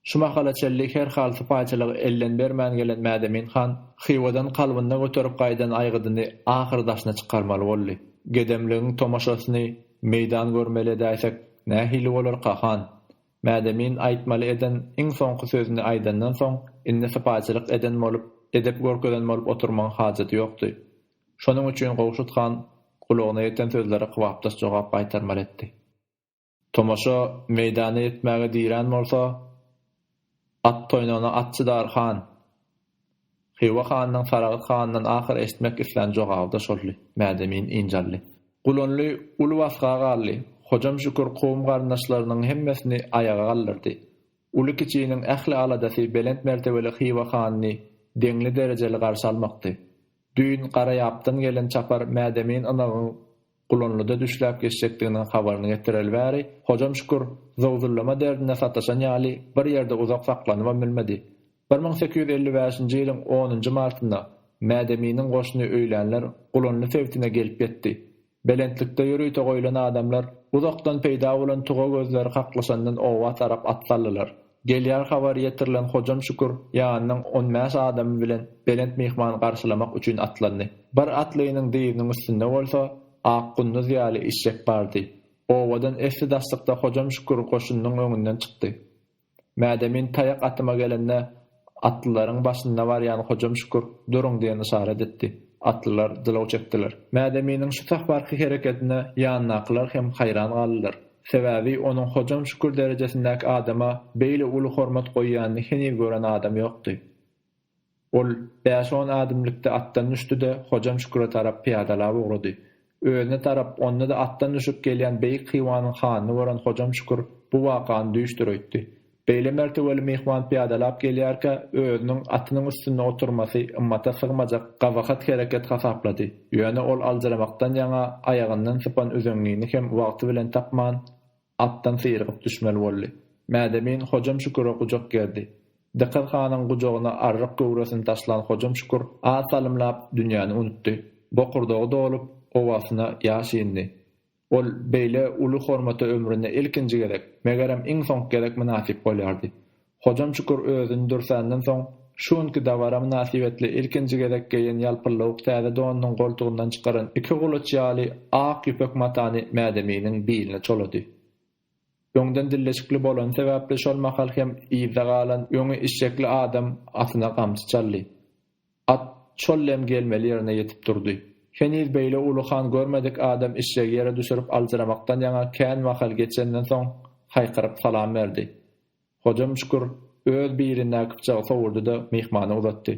Şu mahala çenli her hal sypaýçylygy elden bermän gelen Mädemin han Hywadan kalbynda göterip gaýdan aýgydyny ahyry daşyna çykarmaly boldy. Gedemligiň tomaşasyny meýdan görmeli edäýsek, nähili bolarka, han? Mädemin aýtmaly eden iň soňky sözüni aýdandan soň, indi sypaýçylyk eden bolup, edep görkezen bolup oturmagyň hajaty ýokdy. Şonuň üçin Gowşut han gulagyna ýeten sözlere kybapdaş jogap gaýtarmaly etdi. Tomaşa meýdana ýetmäge dirän bolsa, at toýnagyna at çydar, han! Hywa hanynyň Saragt handan ahyr eşitmek islän jogaby-da şoldy. Mädemin ynjaldy. Gulanly uly basga galdy. Hojam Şükür kowum-garyndaşlarynyň hemmesini aýaga galdyrdy. Uly-kiçiniň ähli aladasy belent mertebeli Hywa hanyny deňli-derejeli garşy almakdy. Düýn Garaýapdan gelen çapar Mädemin ynagyň Gulanlyda düşläp geçjekdiginiň habaryny getireli bäri, Hojam Şükür, zowzullama derdine sataşan ýaly, bir ýerde uzak saklanybam bilmedi. Bir müň sekiz ýüz elli bäşinji ýylyň onunjy martynda Mädeminiň goşuny öýlänler Gulanly sebitine gelip ýetdi. Belentlikde ýörite goýlan adamlar uzakdan peýda bolan tuga gözleri kaklyşandan oba tarap at saldylar. Gelýän habary ýetirilen Hojam Şükür ýanynyň on bäş adamy bilen Belent myhmany garşylamak üçin atlandy. Bir atlynyň dyzynyň üstünde bolsa, ak gunduz ýaly işşek bardy. Owadan esli-daşlykda Hojam Şükür goşunynyň öňünden çykdy. Mädemin taýak atyma gelende, atlylaryň başynda barýan Hojam Şükür Duruň! diýen yşarat etdi. Atlylar jylaw çekdiler. Mädeminiň şu sahbarky hereketine ýandakylar hem haýran galdylar. Sebäbi onuň Hojam Şükür derejesindäki adama beýle uly hormat goýýanyny heniz gören adam ýokdy. Ol bäş-on ädimlikde atdan düşdi-de, Hojam Şüküre tarap pyýadalap ugrady. Özüne tarap, onda-da atdan düşüp gelýän beýik Hywanyň hanyny gören Hojam Şükür bu wakany düýşdir öýtdi. Beýle mertebeli myhman pyýadalap gelýärkä, özüniň atynyň üstünde oturmasy ymmata sygmajak gabahat hereket hasaplady. Ýöne ol aljyramakdan ýaňa aýagyndan sypan üzeňňini hem wagty bilen tapman, atdan syrygyp düşmeli boldy. Mädemin Hojam Şüküre gujak gerdi. Dykyz hanyň gujagyna arryk göwresini taşlan Hojam Şükür az salymlap dünýäni unutdy. Bokurdagy dolup, owasyna ýaş indi. Ol beýle uly hormata ömründe ilkinji gezek, megerem, iň soňky gezek mynasyp bolýardy. Hojam Çukur özüni dürsänden soň, şu günki dabara mynasybetli ilkinji gezek geýen ýalpyllawuk täze donunyň goltugyndan çykaran iki gulaç ýaly ak ýüpek matany Mädeminiň biline çolady. Öňden dilleşikli bolany sebäpli şol mahal hem yzda galan öňi işşekli adam atyna gamçy çaldy. At şol dem gelmeli ýerine ýetip durdy. Heniz beýle uly han görmedik adam işşegi ýere düşürip aljyramakdan ýaňa kän mahal geçenden soň haýkyryp salam berdi. Hojam Şükür öz bir elindäki pyçagy sowuldy-da, myhmana uzatdy.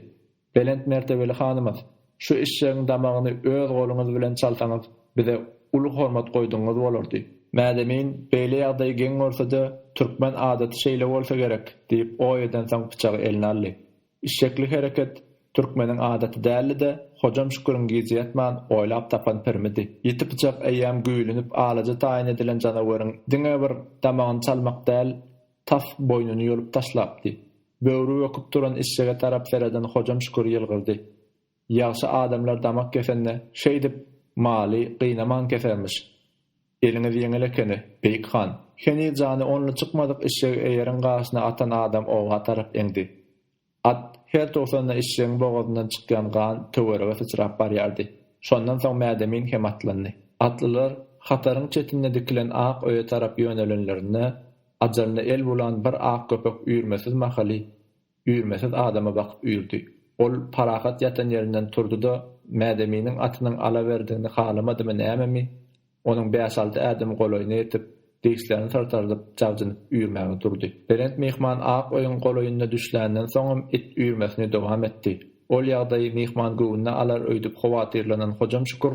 Belent mertebeli hanymyz, şu eşşegiň damagyny öz goluňyz bilen çalsaňyz, bize uly hormat goýdugyňyz bolardy. Mädemin, beýle ýagdaýy geň görse-de, türkmen adaty şeýle bolsa gerek, diýip oý edensoň pyçagy eline aldy. Işşekli hereket türkmeniň adaty däldi-de, Hojam Şüküriň gije ýatman oýlap tapan pirmidi. Ýiti pyçak eýýäm güýlünip alaja taýyn edilen janaweriň diňe bir damagyny çalmak däl, tas boýnuny ýolup taşlapdy. Böwri böküp duran işşege tarap sereden Hojam Şükür ýylgyrdy. Ýagşy adamlar damak kesende şeýdip Maly gynaman kesermiş. Eliňiz ýeňil ekeni, Beýik han. Heniz jany only çykmadyk işşegi eýeriň gaşyna atan adam oba tarap eňdi. At her tugsanda işşegiň bogazyndan çykýan gan töwerege syçrap barýardy. Şondan soň Mädemin hem atlandy. Atlylar hataryň çetinde dikilen ak öýe tarap ýönelenlerinde, ajalyna el bulan bir ak köpek üýrmesiz mahaly Üýrmesiz adama bakyp üýrdi. Ol Parahat ýatan ýerinden turdy-da, Mädeminiň atynyň alawerdigini halamadymy nämemi, onuň bäş-alty ädim golaýyna ýetip, dirslerini syrtardyp, jabjynyp üýrmäge durdy. Belent myhman ak öýüň golaýynda düşländen soňam it üýrmesini dowam etdi. Ol ýagdaýy myhman göwnüne alar öýdüp howatyrlanan Hojam Şükür,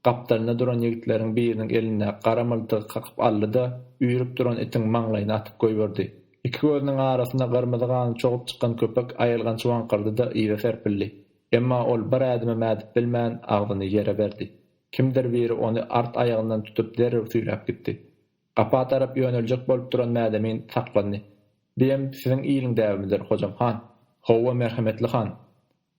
Gapdalynda duran ýigitleriň biriniň elindäki gara myltygy kakyp aldy-da, üýrüp duran itiň maňlaýyna atyp goýberdi. Iki gözüniň arasyna gyrmyzy gany çogup çykan köpek aýylganç waňkyrdy-da, yza serpildi. Emma ol bir ädimem ädip bilmän, agzyny ýere berdi. Kimdir biri ony art aýagyndan tutup derrew süýräp gitdi. Gapa tarap ýöneljek bolup duran Mädemin saklandy. Biem siziň iliň däbimidir, Hojam han! Howwa, merhemetli han!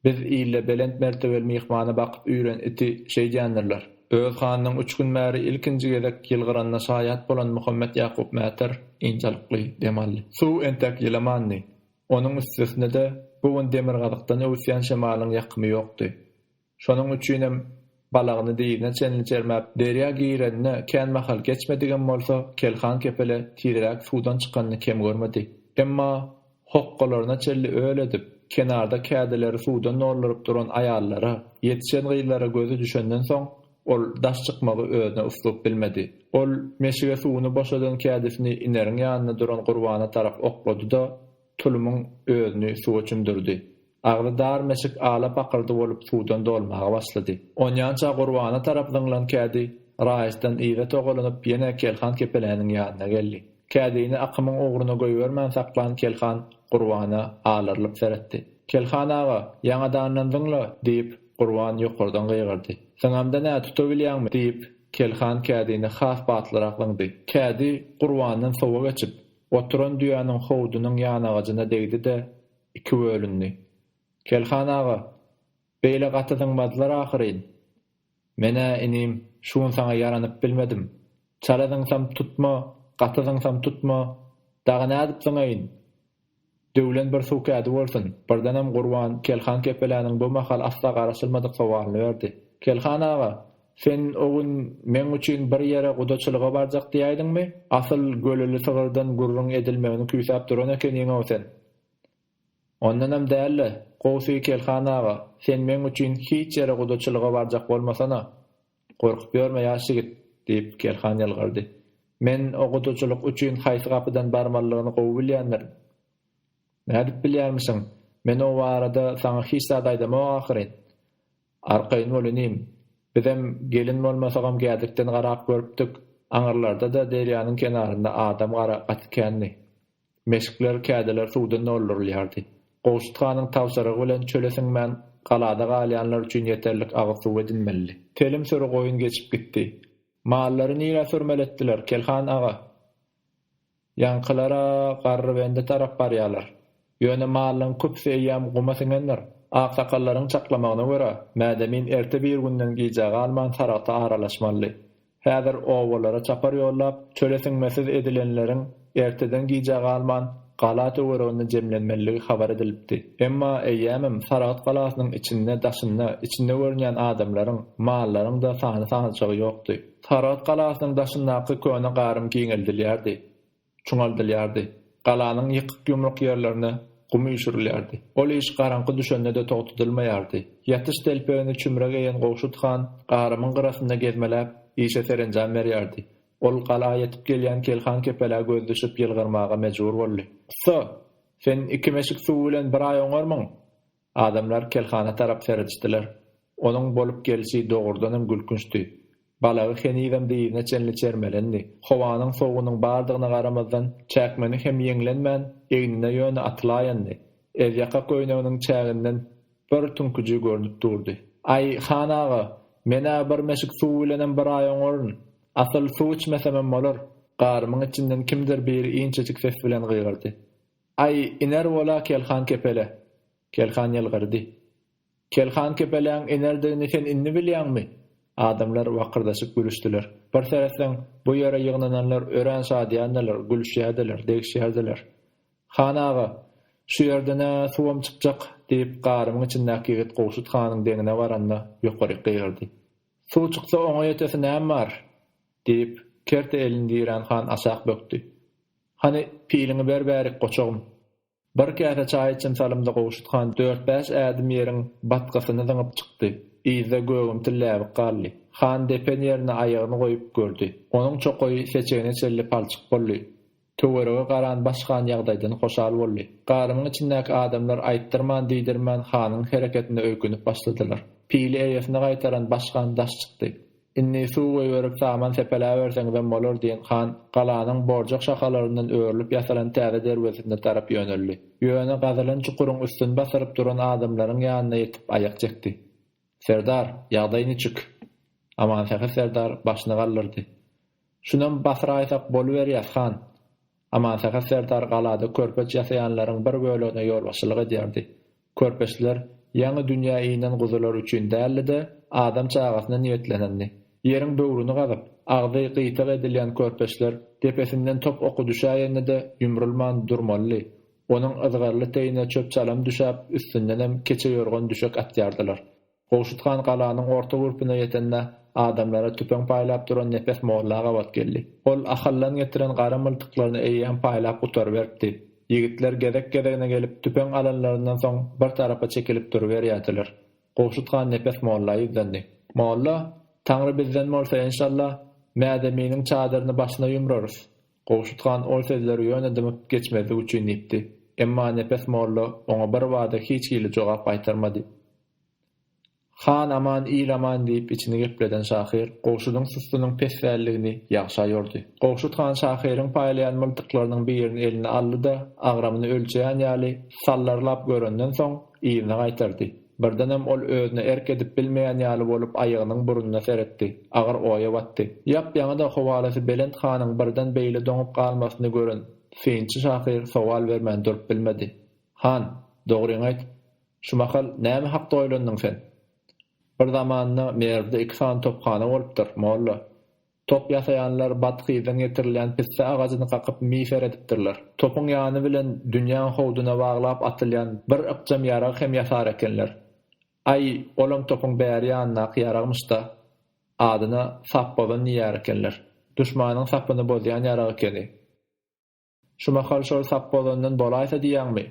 Biz ile belent mertebeli myhmana bakyp üýren iti şeýdýändirler. Öz hanynyň üç gün bäri ilkinji gezek ýylgyranyna şaýat bolan Muhammet Ýakup Mäter ynjalykly dem aldy. Suw entek ýylamandy. Onuň üstesine-de, bu gün demirgazykdan öwüsýän şemalyň ýakymy ýokdy. Şonuň üçinem Balagyny dyzyna çenli çermäp, derýa girenine kän mahal geçmedigem bolsa, Kelhan kepele tireräk suwdan çykanyny kem görmedi. Emma hokgalaryna çenli öl edip, kenarda kädileri suwdan dolduryp duran aýallara, ýetişen gyzlara gözi düşenden soň, ol daş çykmagy özüne uslyp bilmedi. Ol meşige suwuny boşadan kädisini Ineriň ýanynda duran Gurbana tarap oklady-da. tulumyň özüni suwa çümdürdi. Agzy dar meşik ala-pakyrdy bolup suwdan dolmaga başlady. Onýança Gurbana tarap zyňlan kädi raýatdan yza togalanyp ýene Kelhan kepeläniň ýanyna geldi. Kädini akymyň ugruna goýbermän saklan Kelhan Gurbana alarylyp seretdi. Kelhan aga, ýaňadandan zyňla! diýip, Gurban ýokardan gygyrdy. Zyňamda nä, tutabilýäňmi? diýip, Kelhan kädini has batlyrak zyňdy. Kädi Gurbandan sowa geçip, Oturan düýäniň howdunyň ýanagajyna degdi-de, iki bölündi. Kelhan aga, beýle gaty zyňmadylar ahyryn. Men-ä, inim, şu gün saňa ýaranyp bilmedim. Çala zyňsam tutma, gaty zyňsam tutma, dagy nädip zyňaýyn? Döwlen bir suw kädi bolsun! Birdenem Gurban Kelhan kepeläniň bu mahal asla garaşylmadyk sowalyny berdi. Kelhan aga, sen o gün meň üçin bir ýere gudaçylyga barjak diýäýdiňmi? Asyl göleli sygyrdan gürrüň edilmegini küýsäp duran ekeniň-ow sen. Ondanam däl-le, gowusy Kelhan aga, sen meň üçin hiç ýere gudaçylyga barjak bolmasana. Gorkup ýörme, ýaş ýigit! diýip, Kerhan ýylgyrdy. Men okuwçylyk üçin haýsy gapydan barmalyny gowy bilýändirin. Nädip bilýärmişiň? Men o barada saňa hiç zat aýdamok ahyryn. Arkaýyn bol, inim. Bizem gelin bolmasagam gädikden garap görüpdik, aňyrlarda-da derýanyň kenarynda adam gara gaty kändi. Meşikler, kädiler suwdan doldurylýardy. Gowşut hanyň tabşyrygy bilen çöle siňmän, galada galýanlar üçin ýeterlik agyz suwy edinmelidi. Telim süri goýun geçip gitdi. Mallary nirä sürmeletdiler, Kelhan aga? Ýaňkylar-a Garrybende tarap barýarlar. Ýöne mallaryň köpüsi eýýäm guma siňendir. Aksakallaryň çaklamagyna görä, Mädemin erte birgünden gijä galman Saragta aralaşmalydy. Häzir obalara çapar ýollap, çöle siňmesiz edilenleriň erteden gijä galman, gala töwereginde jemlenmelidigi habar edilipdi. Emma eýýämem Saragt galasynyň içinde, daşynda, içinde görünýän adamlaryň, mallaryň-da sany-sanajagy ýokdy. Saragt galasynyň daşyndaky köne garym giňeldilýärdi. çuňaldylýardy. Galanyň ýykyk-ýumruk ýerlerine gum üýşürilýärdi. Ol iş garaňky düşende-de togtadylmaýardy. Ýatyş telpegini çümre geýen Gowşut han garymyň gyrasynda gezmeläp, işe serenjam berýärdi. Ol gala ýetip gelýän Kelhan kepelä göz düşüp ýylgyrmaga mejbur boldy. Ussa! Sen iki meşik suw bilen bir aý oňarmyň? Adamlar kelhana tarap seredişdiler. Onuň bolup gelşi dogrudanam gülkünçdi. Balagy henizem dyzyna çenli çermelendi. Howanyň sowugynyň bardygyna garamazdan, çäkmeni hem ýeňlenmän, egnine ýöne atylaýandy. Ezýaka köýneginiň çäginden bir tüňküji görnüp durdy. Aý, han aga, men-ä bir meşik suw bilenem bir aý oňaryn. Asyl, suw içmesemem bolar. Garymyň içinden kimdir biri inçejik ses bilen gygyrdy. Aý, iner bol-a Kelhan kepele! Kelhan ýylgyrdy. Kelhan kepeläň inerdigini sen indi bilýäňmi? Adamlar wakyrdaşyp gülüşdiler. Bir seretseň, bu ýere ýygnananlar örän şadyýandylar, gülüşýärdiler, degişýärdiler. Han aga, şu ýerden-ä suwam çykjak, diýip, garymyň içindäki ýigit Gowşut hanyň deňine baranda, ýokaryk gygyrdy. Suw çyksa oňa ýetesi näm bar? diýip, kerte elini dirän han aşak bökdi. Hany, piliňi ber bärik, goçagym. Bir käse çaý içim salymda Gowşut han dört-bäş ädim ýeriň batgasyny zyňyp çykdy. Yzda gögümtil läbik galdy. Han depen ýerine aýagyny goýup gördi. Onuň çokaýy seçegine çenli palçyk boldy. Töwerege garan baş han ýagdaýdan hoşal boldy. Garymyň içindäki adamlar aýtdyrman-diýdirmän hanyň hereketine öýkünip başladylar. Pili eýesine gaýtaran baş han daş çykdy. Indi suw goýberip saman sepeläberseňizem bolar, diýen han galanyň borjak şahalaryndan örülip ýasalan täze derwezesine tarap ýöneldi. Ýöne gazylan çukuryň üstüni basyryp duran adamlaryň ýanyna ýetip aýak çekdi. Serdar, ýagdaý niçik? Amansähet serdar başyny galdyrdy. Şunam basyraýsak boluberýär, han. Amansähet serdar galada körpeç ýasaýanlaryň bir bölegine ýolbaşçylyk edýärdi. Körpeçler ýaňy dünýä inen guzular üçin däldi-de, adam çagasyna niýetlenendi. Ýeriň böwrüni gazyp, agzy gyýtag edilýän körpeçler depesinden top oky düşäýende-de ýumrulman durmalydy, onuň yzgarly teýine çöp-çalam düşäp, üstündenem keçe ýorgan-düşek atýardylar. Gowşut han galanyň orta gurpuna ýetende, adamlara tüpeň paýlap duran Nepes molla gabat geldi. Ol Ahaldan getiren gara myltyklaryny eýýäm paýlap gutaryberipdi. Ýigitler gezek-gezegine gelip, tüpeň alanlaryndan soň bir tarapa çekilip duruberýärdiler. Gowşut han Nepes molla ýüzlendi. Molla, Taňry bizden bolsa, enşalla, Mädeminiň çadyryny başyna ýumrarys. Gowşut han ol sözleri ýöne dymyp geçmezlik üçin diýipdi. Emma Nepes molla oňa birbada hiç hili jogap gaýtarmady. Han aman, il aman diýip içini gepleden şahyr Gowşudyň sustunyň pesbälligini ýagşa ýordy. Gowşut han şahyryň paýlaýan myldyklarynyň birini eline aldy-da, agramyny ölçeýän ýaly sallarlap görenden soň, yzyna gaýtardy. Birdenem ol özüne erk edip bilmeýän ýaly bolup aýagynyň burnuna seretdi. Agyr oýa batdy. Ýap-ýaňy-da howalysy belent hanyň birden beýle doňup galmasyny gören synçy şahyr sowal bermän durup bilmedi. Han, dogryňy aýt. Şu mahal näme hakda oýlandyň sen? Bir zamanda Merwde iki sany tophana bolupdyr, molla. Top ýasaýanlar bathyzdan getirilýän pisse agajyny kakyp mifer edipdirler. Topuň ýany bilen dünýäň howduna baglap atylýan bir ykjam ýarag hem ýasar ekenler. Aý, olam topuň bäri ýanyndaky ýaragmyş-da. Adyna Sapbozan diýýär ekenler. Duşmanyň sapyny bozýan ýarag ekeni. Şu mahal şol sapbozandan bolaýsa diýýäňmi?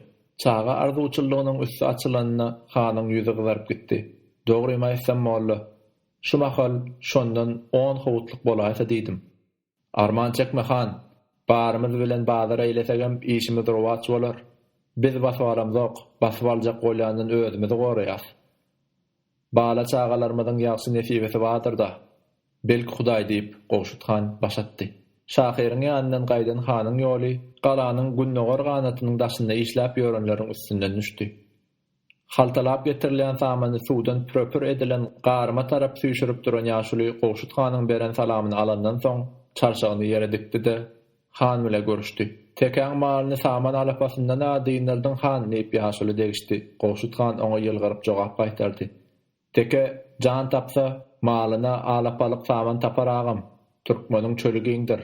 Çaga arzuwçyllygynyň üsti açylanyna hanyň ýüzi gyzaryp gitdi. Dogrymy aýtsam, molla, şu mahal şondan on howutlyk bolaýsa diýdim. Arman çekme, han. Barymyz bilen bazar eýlesegem işimiz rowaç bolar. Biz basyp alamzok, basyp aljak bolýandan özümizi goraýas. Bala-çagalarymyzyň ýagşy nesibesi bardyr-da. Belki Hudaý diýip, Gowşut han baş atdy. Şahyryň ýanyndan gaýdan hanyň ýoly galanyň gündogar ganatynyň daşynda işläp ýörenleriň üstünden düşdi. Haltalap getirilýän samany suwdan püre-pür edilen garyma tarap süýşürip duran ýaşuly Gowşut hanyň beren salamyny alandan soň, çarşagyny ýere dikdi-de, Han bile görüşdi. Tekäň malyny saman alapasyndan-a dyndyrdyn han, diýip ýaşuly degişdi. Gowşut han oňa ýylgyryp jogap gaýtardy. Teke jan tapsa, malyna alapalyk saman tapar agam. Türkmeniň çöli giňdir.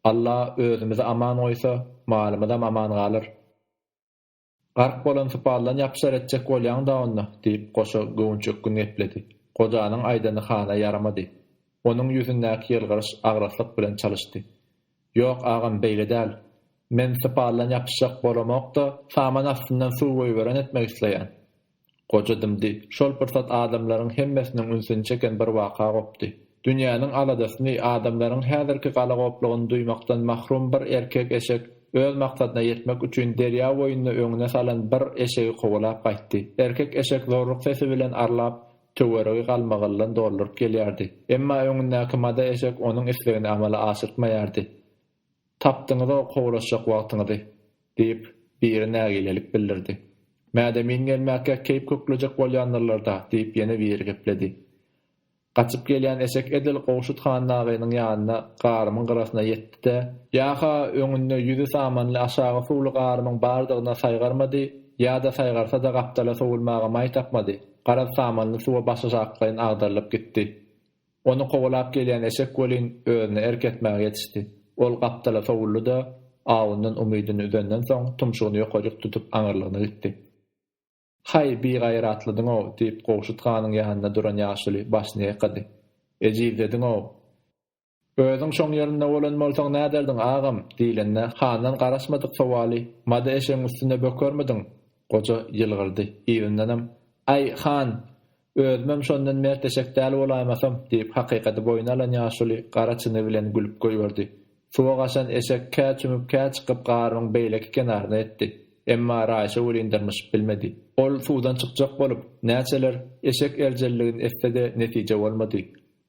Alla özümizi aman goýsa, malymyzam aman galar. Gark bolan sypaldan ýapyşar etjek bolýaň-da onda, diýip, goşa göwünç ökgün gepledi. Gojanyň aýdany hana ýaramady. Onuň ýüzündäki ýylgyryş agraslyk bilen çalyşdy. Ýok, agam, beýle däl. Men sypaldan ýapyşjak bolamok-da, saman astyndan suw goýberen etmek isleýän. Goja dymdy. Şol pursat adamlaryň hemmesiniň ünsüni çeken bir waka gopdy. Dünýäniň aladasyny, adamlaryň häzirki galagoplugyny duýmakdan mahrum bir erkek eşek öz maksadyna ýetmek üçin derýa boýunda öňüne salan bir eşegi kowalap gaýtdy. Erkek eşek zorruk sesi bilen arlap, töweregi galmagyldan dolduryp gelýärdi. Emma öňündäki mada eşek onuň islegini amala aşyrtmaýardy. Tapdyňyz-ow kowlaşjak wagtyňyzy, diýip, biri nägilelik bildirdi. Mädemin gelmäkä keýp köklejek bolýandyrlar-da, diýip, ýene biri gepledi. Gaçyp gelýän eşek edil Gowşut han nagynyň ýanyna, garymyň gyrasyna ýetdi-de, ýa-ha öňünde ýüzi samanly aşagy suwly garymyň bardygyna saýgarmady, ýa-da saýgarsa-da gapdala sowulmaga maý tapmady, garaz samanly suwa başaşaklaýyn agdarylyp gitdi. Ony kowalap gelýän eşek welin özüne erk etmäge ýetişdi. Ol gapdala sowuldy-da, awundan umydyny üzenden soň, tumşugyny ýokarjyk tutup aňyrlygyna gitdi. Haý, bigaýratlydyň-ow! diýip, Gowşut hanyň ýanynda duran ýaşuly başyny ýaýkady. Ejizlediň-ow! Özüň şoň ýerinde bolan bolsaň näderdiň, agam? diýlende, handan garaşmadyk sowaly, Mada eşegiň üstünde bökermidiň? Goja ýylgyrdy. Yzyndanam, Aý, han! Özümem şondan mertleşek däl bolaýmasam, diýip, hakykady boýna alan ýaşuly gara çyny bilen gülüp goýberdi. Suwa gaçan eşek kä çümüp, kä çykyp garybyň beýleki kenaryna ýetdi. Emma Raýşa welin dyrmyşyp bilmedi. Ol suwdan çykjak bolup, näçeler eşek erjelligini etse-de netije bolmady.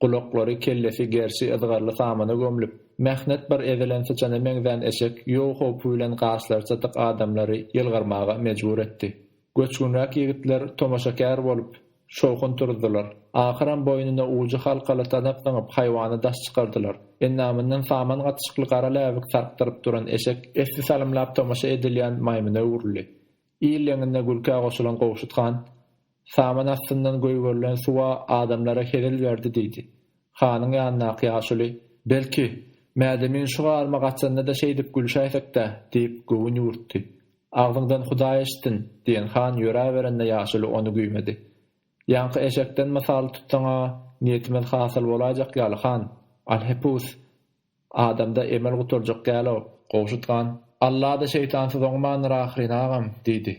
Gulaklary, kellesi gerşi yzgarly samana gömlüp, mähnet bir ezilen syçana meňzän eşek ýow howpy bilen gaşlary çatyk adamlary ýylgyrmaga mejbur etdi. Göçgünräk ýigitler tomaşakär bolup, şowhun turuzdylar. Ahyram boýnuna ujy halkaly tanak zyňyp, haýwana daş çykardylar. Endamyndan saman gatyşykly gara läbik sarkdyryp duran eşek esli salymlap tomaşa edilýän maýmyna öwrüldi. Il leňine gülkä goşulan Gowşut han, Saman astyndan göýberilen suw-a adamlara hezil berdi diýdi. Hanyň ýanyndaky ýaşuly, Belki, Mädemin şu garma gaçanda-da şeýdip gülşäýsek-dä? diýip, göwün ýüwürtdi. Agzyňdan Hudaý eşitsin! diýen han ýöräberende ýaşuly ony güýmedi. Ýaňky eşekden mysal tutsaň-a, niýetimiz hasyl bolaýjak ýaly, han! Alhepus! Adamda emel gutarjak däl-ow, gowşutgan! Alla-da şeýtansyz oňmandyr ahyryn, agam! diýdi.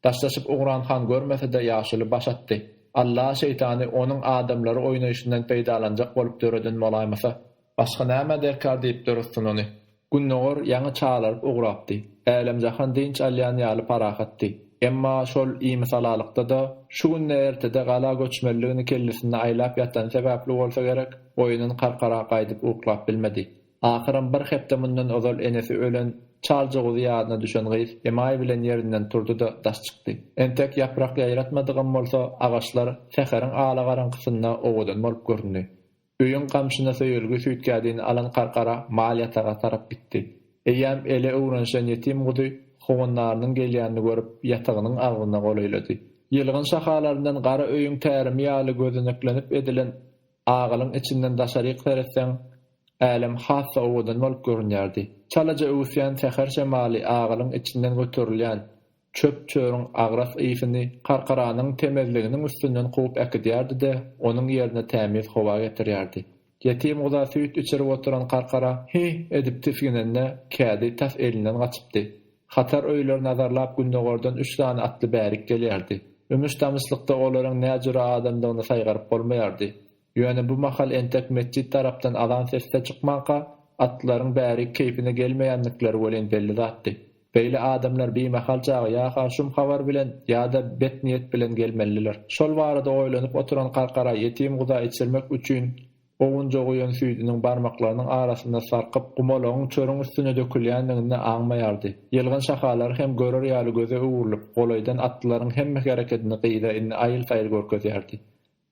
Daşlaşyp ugran han görmese-de ýaşuly baş atdy. Alla şeýtany onuň adamlary oýnaýşyndan peýdalanjak bolup döreden bolaýmasa! Başga näme derkar diýipdir Yssun ony. Gündogar ýaňy çalaryp ugrapdy. Älem-jahan dynç alýan ýaly parahatdy. Emma şol imishalalykda-da, şu günde-ertede gala göçmeliligini kellesinde aýlap ýatany sebäpli bolsa gerek, oýundan karkara gaýdyp uklap bilmedi. Ahyram bir hepde mundan ozal enesi ölen çaljyguzy ýadyna düşen gyz emaý bilen ýerinden turdy-da, daş çykdy. Entek ýaprak ýaýratmadygam bolsa, agaçlar säheriň ala garaňkysynda owadan bolup göründi. Öýüň gamşyna söýelgi süýtgädini alan Karkara mal ýataga tarap gitdi. Eýýäm ele öwrenişen ýetim guzy howandarynyň gelýänini görüp, ýatagynyň agzyna golaýlady. Ýylgyn şahalaryndan gara öýüň tärimi ýaly gözeneklenip edilen agalyň içinden daşaryk seretseň, älem has-da owadan bolup görünýärdi. Çalaja öwüsýän säher şemaly agalyň içinden göterilýän Çöp-çöriň agras ysyny Karkaranyň temizliginiň üstünden kowup äkidýärdi-de, onuň ýerine tämiz howa getirýärdi. Ýetim guza süýt içirip oturan Karkara Hi! edip tisginende, kädi tas elinden gaçypdy. Hatar öýleri nazarlap gündogardan üç sany atly bärik gelýärdi. Ümüş-tamyşlykda olaryň näjüre adamdygyny saýgaryp bolmaýardy. Ýöne bu mahal entek metjit tarapdan azan sesi-de çykmanka, atlylaryň bärik keýpine gelmeýändikleri welin belli zatdy. Beýle adamlar bimahal çagy ýa-ha şum habar bilen, ýa-da bet niýet bilen gelmelidiler. Şol barada oýlanyp oturan Karkara ýetim guza içirmek üçin owunja guýan süýdüniň barmaklarynyň arasynda sarkyp, gumalagyň çörüň üstüne dökülýändigini aňmaýardy. Ýylgyn şahalary hem görer ýaly göze öwrülip, golaýdan atlylaryň hemme herekedini gyza indi aýyl-saýyl görkezýärdi.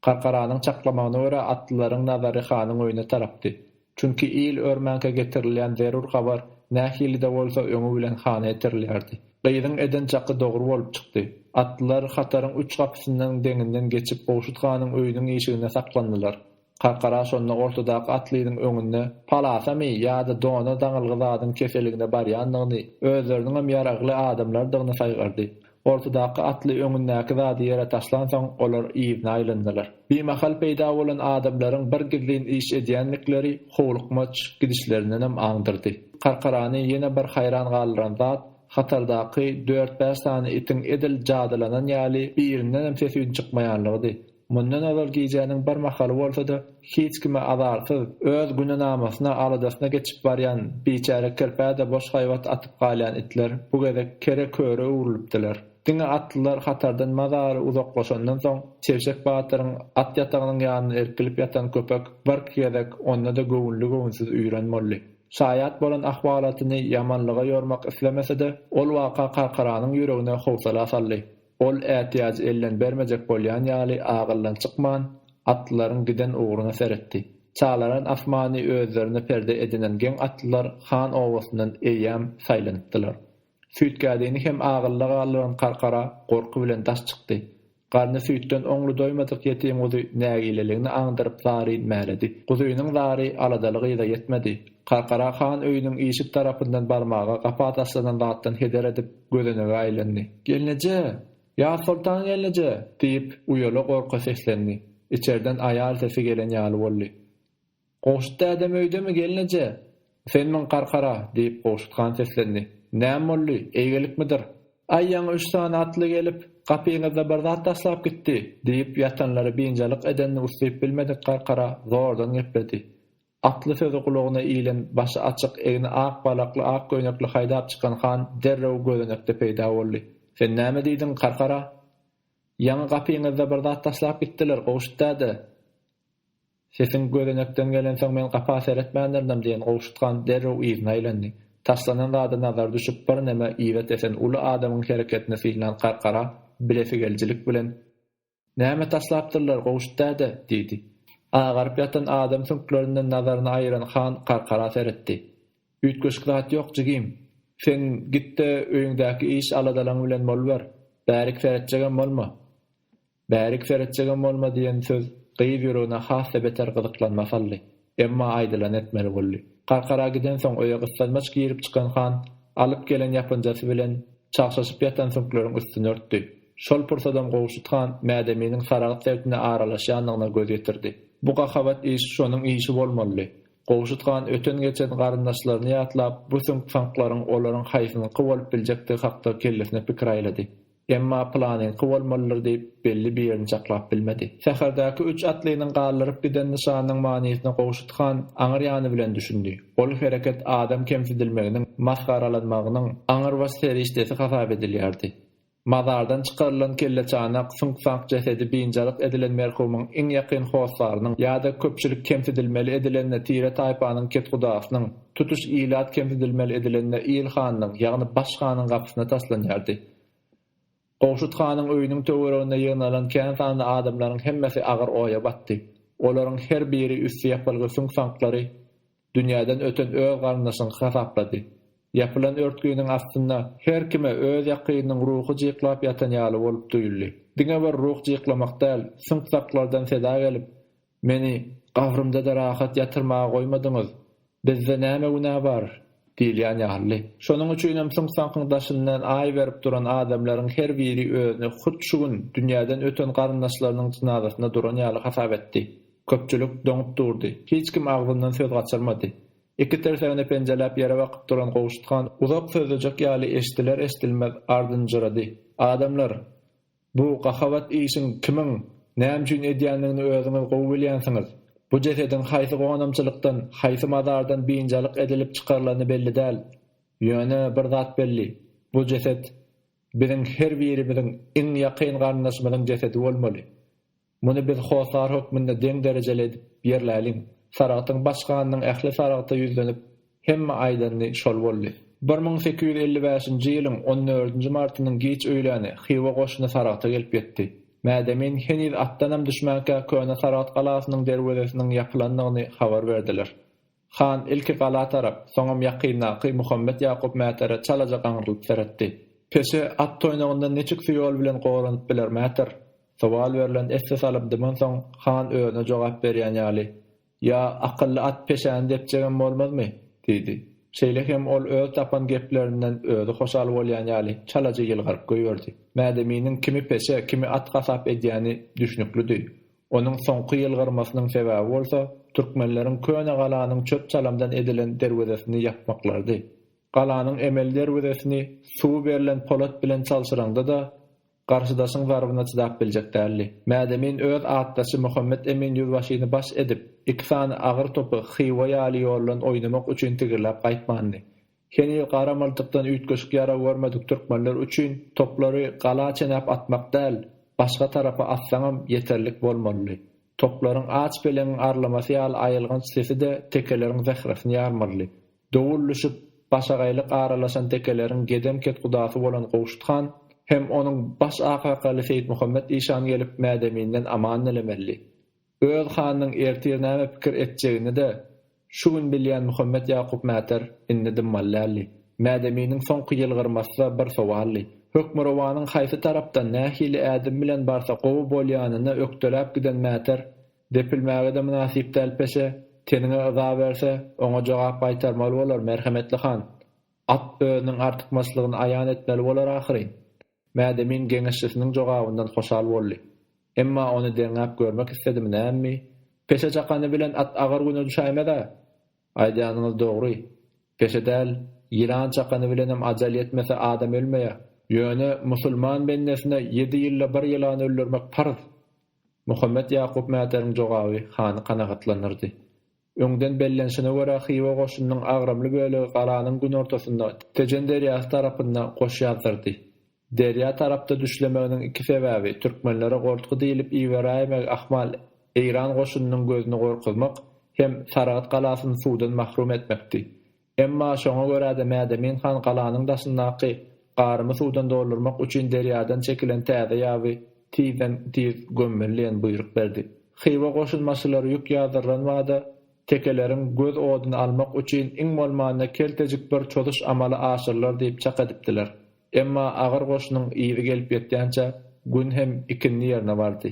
Gargaranyň çaklamagyna görä, atlylaryň nazary hanyň öýüne tarapdy. Çünki il örmänkä getirilýän zerur habar nähili-de bolsa öňi bilen hana ýetirilýärdi. Gyzyň eden çaky dogry bolup çykdy. Atlylar hataryň üç gapysyndan deňinden geçip Gowşut hanyň öýüniň işiginde saklandylar. Gargara şonda ortadaky atlynyň öňünde palasamy ýa-da dona daňylgy zadyň keseligine barýandygyny, özleriniňem ýaragly adamlardygyny saýgardy. Ortadaky atly öňündäki zady ýere taşlansoň, olar yzyna aýlandylar. Bimahal peýda bolan adamlaryň bir gizlin iş edýändikleri howlukmaç gidişlerindenem aňdyrdy. Karkarany ýene bir haýran galdyran zat, hatardaky dört-bäş sany itiň edil jadylanan ýaly birindenem ses-üýn çykmaýanlygydy. Mundan ozal gijäniň bir mahaly bolsa-da, hiç kime azarsyz, öz günenamasyna, aladasyna geçip barýan biçäre kirpä-de boş haýbat atyp galýan itler bu gezek kere-köre öwrülipdiler. Diňe atlylar hatardan mazaly uzaklaşandan soň, Çeşek batyryň at ýatagynyň ýanynda irkilip ýatan köpek birki gezek onda-da göwünli-göwünsiz üýran boldy. Şaýat bolan ahwalatyny ýamanlyga ýormak islemese-de, ol waka Karkaranyň ýüregine howsala saldy. Ol ätiýajy elden bermejek bolýan ýaly agyldan çykman, atlylaryň giden ugruna seretdi. Çalaran asmany özlerine perde edinen geň atlylar Han obasyndan eýýäm saýlanypdylar. Süýtgädini hem agylda galdyran Karkara gorky bilen daş çykdy. Garny süýtden oňly doýmadyk ýetim guzy nägileligini aňdyryp zaryn mäledi. Guzynyň zary aladaly gyza ýetmedi. Karkara Han öýüniň işik tarapyndan barmaga gapa taşlanan zatdan heder edip, gözenege aýlandy. Gelneje! Ýazsoltan gelneje! diýip, uýala gorka seslendi. Içerden aýal sesi gelen ýaly boldy. Gowşut dädem öýdemi, gelneje? Senmiň, Garkara? diýip, Gowşut han seslendi. Näme boldy? Eýgilikmidir? Aý, ýaňy üç sany atly gelip, gapyňyzda bir zat taşlap gitdi, diýip, ýatanlary biynjalyk edenini uslyp bilmedik Garkara zordan gepledi. Atly sözi gulagyna ilen, başy açyk, egni ak balakly ak köýnekli haýdap çykan han derrew gözenekde peýda boldy. Sen näme diýdiň, Karkara? Ýaňy gapyňyzda bir zat taşlap gitdiler, Gowşut däde! Sesiň gözenekden gelensoň men gapa seretmändirdim, diýen Gowşut han derrew yzyna aýlandy. Taşlanan zada nazary düşüp birneme yza tesen uly adamyň hereketini synlan Karkara bilesigelijilik bilen. Näme taşlapdyrlar, Gowşut däde? diýdi. Agaryp ýatan adam süňklerinden nazaryny aýyran han Karkara seretdi. Üýtgeşik zat ýok, jigim. Sen git-de, öýüňdäki iş-aladalaryň bilen boluber. Bärik seretjegem bolma. Bärik seretjegem bolma diýen söz gyz ýüregine has-da beter gyzyklanma saldy. Emma aýdylany etmeli boldy. Garkara gidensoň öýe gyssanmaç girip-çykan han alyp gelen ýapynjasy bilen çagşaşyp ýatan süňkleriň üstüni örtdi. Şol pursadam Gowşut han Mädeminiň Saragyt sebtine aralaşýandygyna göz ýetirdi. Bu gahabat iş şonuň işi bolmalydy. Gowşut han öten-geçen garyndaşlaryny ýatlap, bu süňk-saňklaryň olaryň haýsynyňky bolup biljekdigi hakda kellesine pikir aýlady. Emma planyňky bolmalydyr diýip, belli bir ýerini çaklap bilmedi. Säherdäki üç atlynyň galdyryp giden nyşanynyň manysyna Gowşut han aňyr ýany bilen düşündi. Ol hereket adam kemsidilmeginiň, masgaralanmagynyň aňrybaş serişdesi hasap edilýärdi. Mazardan çykarylan kelleçanak, süňk-saňk jesedi biynjalyk edilen merhumyň iň ýakyn hossarynyň ýa-da köpçülik kemsidilmeli edilende tire-taýpanyň ketgudasynyň, Tutuş ilat kemsidilmeli edilende il hanyň, ýagny baş hanyň gapysyna taslanýardy. Gowşut hanyň öýüniň töwereginde ýygnalan kän sanly adamlaryň hemmesi agyr oýa batdy. Olaryň her biri üsti ýapylgy süňk-saňklary dünýäden öten öz garyndaşyňky hasaplady. Ýapylan örtginiň astynda her kime öz ýakynynyň ruhy jyklap ýatan ýaly bolup duýuldy. Diňe bir ruh jyklamak däl, süňk-saklardan seda gelip, Meni gabrymda-da rahat ýatyrmaga goýmadyňyz. Bizde näme günä bar? diýilýän ýaly. Şonuň üçinem suňsaňkyň daşyndan aý berip duran adamlaryň her biri özüni hut şu gün dünýäden öten garyndaşlarynyň jynazasynda duran ýaly hasap etdi. Köpçülik doňup durdy. Hiç kim agzyndan söz gaçyrmady. Iki tirsägini penjeläp ýere bakyp duran Gowşut han uzak sözlejek ýaly eşdiler-eşdilmez ardynjyrady, Adamlar! Bu gahabat işiň kimiň, näme üçin edýändigini özüňiz gowy bilýänsiňiz. Bu jesediň haýsy gonamçylykdan, haýsy mazardan biynjalyk edilip çykarylany belli däl. Ýöne bir zat belli, bu jeset biziň her birimiziň iň ýakyn garyndaşymyzyň jesedi bolmaly. Muny biz hossar hökmünde deň derejeli edip ýerläliň. Saragtyň baş ganynyň ähli saragta ýüzlenip, hemme aýdanyny şol boldy. Bir müň sekiz ýüz elli bäşinji ýylyň on dördünji martynyň giç öýläni Hywa goşuny Saragta gelip ýetdi. Mädemin heniz atdanam düşmänkä köne Saragt galasynyň derwezesiniň ýapylandygyny habar berdiler. Han ilki gala tarap, soňam ýakyndaky Muhammet Ýakup Mätärä çalaja gaňrylyp seretdi. Peşe at toýnagyndan niçik su ýol bilen goranyp biler Mätär? Sowal berlen esse salyp dymansoň, han özüne jogap berýän ýaly, Ýa, akylly at peşäni depjegem bolmazmy? diýdi. Şeýle hem ol öz tapan geplerinden özi hoşal bolýan ýaly, çalaja ýylgyryp goýberdi. Mädeminiň kimi peşe, kimi at hasap edýäni düşnüklidi. Onuň soňky ýylgyrmasynyň sebäbi bolsa, türkmenleriň köne galanyň çöp-çalamdan edilen derwezesini ýapmaklarydy. Galanyň emeli derwezesini suwy berlen polat bilen çalşyraňda-da, garşydaşyň zarbyna çydap biljek däldi. Mädemin öz atdaşy Muhammet Emin ýüzbaşyny baş edip, iki sany agyr topy Hywa ýaly ýoldan oýnamak üçin tigirläp gaýtmandy. Heniz garamyldykdan üýtgeşik ýarag görmedik türkmenler üçin toplary gala çenäp atmak däl, başga tarapa atsaňam ýeterlik bolmalydy. Toplaryň aç peleňiň arlamasy ýaly aýylganç sesi-de tekeleriň zähresini ýarmalydy. Dowul düşüp, başagaýlyk aralaşan tekeleriň gedem ketgudasy bolan Gowşut han hem onuň baş akakaly Seýitmuhammet işan gelip mädeminden aman dilemelidi. Öz hanynyň ertir näme pikir etjegini-de şu gün bilýän Muhammet Ýakup Mäter indi dymmaly däldi. Mädeminiň soňky ýylgyrmasy-da bir sowaldy. Hökmürowanyň haýsy tarapdan, nähili ädim bilen barsa gowy bolýanyna ökdeläp giden Mäter, Depilmäge-de mynasyp däl peşe, teniňe yza berse, oňa jogap gaýtarmaly bolar, merhemetli han! At özüniň artykmaçlygyny aýan etmeli bolar ahyryn! Mädemin geňeşçisiniň jogabyndan hoşal boldy. Emma ony deňäp görmek isledim näme? Peşe çakany bilen at agyr güne düşäýmez-ä? Aýdýanyňyz dogry. Peşe däl, ýylan çakany bilenem ajal ýetmese adam ölmeýä. Ýöne musulman bendesine ýedi ýylda bir ýylany öldürmek parz. Muhammet Ýakup Mäteliň jogaby hany kanagatlandyrdy. Öňden bellenişine görä Hywa goşunynyň agramly bölegi galanyň günortasynda, Tejen derýasy tarapynda goşy ýazdyrdy. Derýa tarapda düşlemeginiň iki sebäbi, türkmenlere gortgy diýlip iberäýmegi ahmal, eýran goşunynyň gözüni gorkuzmak hem Saragt galasyny suwdan mahrum etmekdi. Emma şoňa görä-de Mädemin han galanyň daşyndaky garymy suwdan doldurmak üçin derýadan çekilen täze ýaby tizden-tiz gömmeli diýen buýruk berdi. Hywa goşunbaşylary ýük ýazdyrylan bada tekeleriň göz oduny almak üçin iň bolmanda keltejik bir çozuş amaly aşyrylar diýip çak edipdiler. Emma agyr goşunyň yzy gelip ýetýänçä gün hem ikindi ýerine bardy.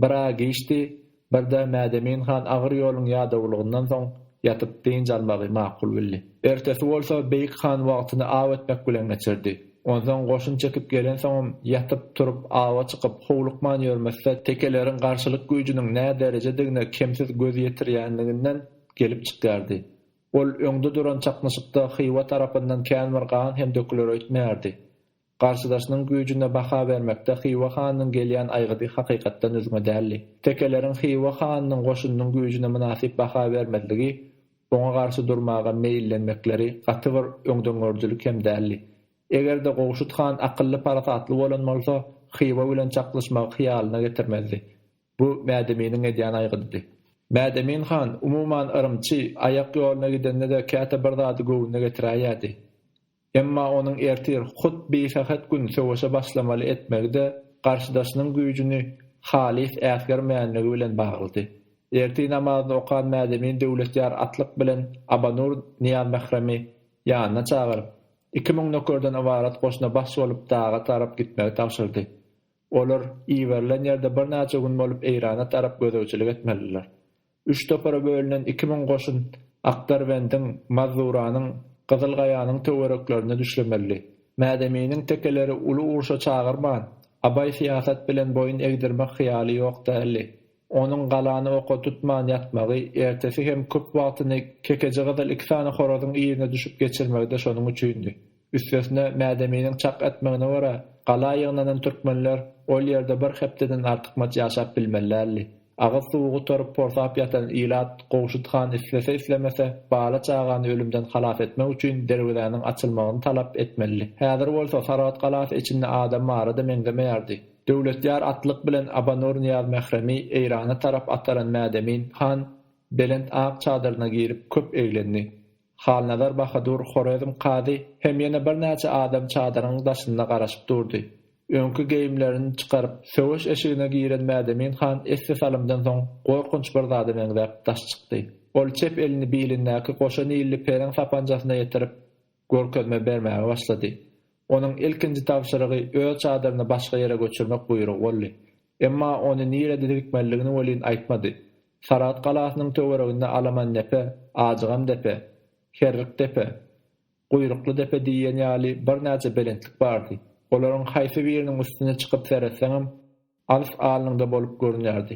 Bir aý geçdi, birde Mädemin han agyr ýoluň ýadawlygyndan soň ýatyp dynç almagy makul bildi. Ertesi bolsa Beýik han wagtyny aw etmek bilen geçirdi. Onsoň goşun çekip gelensoňam ýatyp, turup, awa çykyp, howlukman ýörmese tekeleriň garşylyk güýjüniň nä derejedigine kemsiz göz ýetirýänliginden gelip çykýardy. Ol öňde duran çaknyşykda Hywa tarapyndan känbir gan hem döküler öýtmeýärdi. Garşydaşynyň güýjüne baha bermekde Hywa hanynyň gelýän aýgydy hakykatdan üzňe däldi. Tekeleriň Hywa hanynyň goşunynyň güýjüne mynasyp baha bermezligi, oňa garşy durmaga meýillenmekleri gaty bir öňdengörüjilik hem däldi. Eger-de Gowşut han akylly-parasatly bolan bolsa, Hywa bilen çaknyşmagy hyýalyna getirmezdi. Bu Mädeminiň edýän aýgydydy. Mädemin han, umuman, yrymçy, aýak ýoluna gidende-de käte bir zady göwnüne getiräýýärdi. Emma onuň ertir, hut bisähet gün söweşe başlamaly etmegi-de garşydaşynyň güýjüni halys äsgermeýänligi bilen baglydy. Ertir namazyny okan Mädemin Döwletýar atlyk bilen Abanur Nyýazmähremi ýanyna çagyryp, iki müň nökerden ybarat goşuna baş bolup daga tarap gitmegi tabşyrdy. Olar iberilen ýerde birnäçe gün bolup Eýrana tarap gözegçilik etmelidiler. Üç topara bölünen iki müň goşun Akdarbendiň, Mazuranyň, Gyzyl Gaýanyň töwereklerine düşlemeli. Mädeminiň tekeleri uly urşa çagyrman, abaý syýasat bilen boýun egdirmek hyýaly ýok däldi. Onuň galany oka tutman ýatmagy, ertesi hem köp wagtyny Kekejigyzyl iki sany horazyň yzyna düşüp geçirmegi-de şonuň üçindi. Üstesine, Mädeminiň çak etmegine görä, gala ýygnanan türkmenler ol ýerde bir hepdeden artykmaç ýaşap bilmeli däldi. Agyz suwy gutaryp porsap ýatan ilat Gowşut han islese-islemese, bala-çagany ölümden halas etmek üçin derwezäniň açylmagyny talap etmelidi. Häzir bolsa Saragt galasy içinde adam bara-da meňzemeýärdi. Döwletýar atlyk bilen Abanur Nyýazmähremi Eýrana tarap ataran Mädemin han belent ak çadyryna girip köp eglendi. Halnazar Bahadur, Horezm kazy hem ýene birnäçe adam çadyryň daşynda garaşyp durdy. Öňki geýimlerini çykaryp, söweş eşigine giren Mädemin han esli salymdan soň gorkunç bir zada meňzäp daş çykdy. Ol çep elini bilindäki goşa nilli periň sapanjasyna ýetirip, görkezme bermäge başlady. Onuň ilkinji tabşyrygy öz çadyryny başga ýere göçürmek buýrugy boldy. Emma ony nirede dirikmelidigini welin aýtmady. Saragt galasynyň töwereginde Alamandepe, Ajygamdepe, Herrikdepe, Guýruklydepe diýen ýaly birnäçe belentlik bardy. Olaryň haýsy biriniň üstüne çykyp seretseňem, alys alnyňda bolup görünýärdi.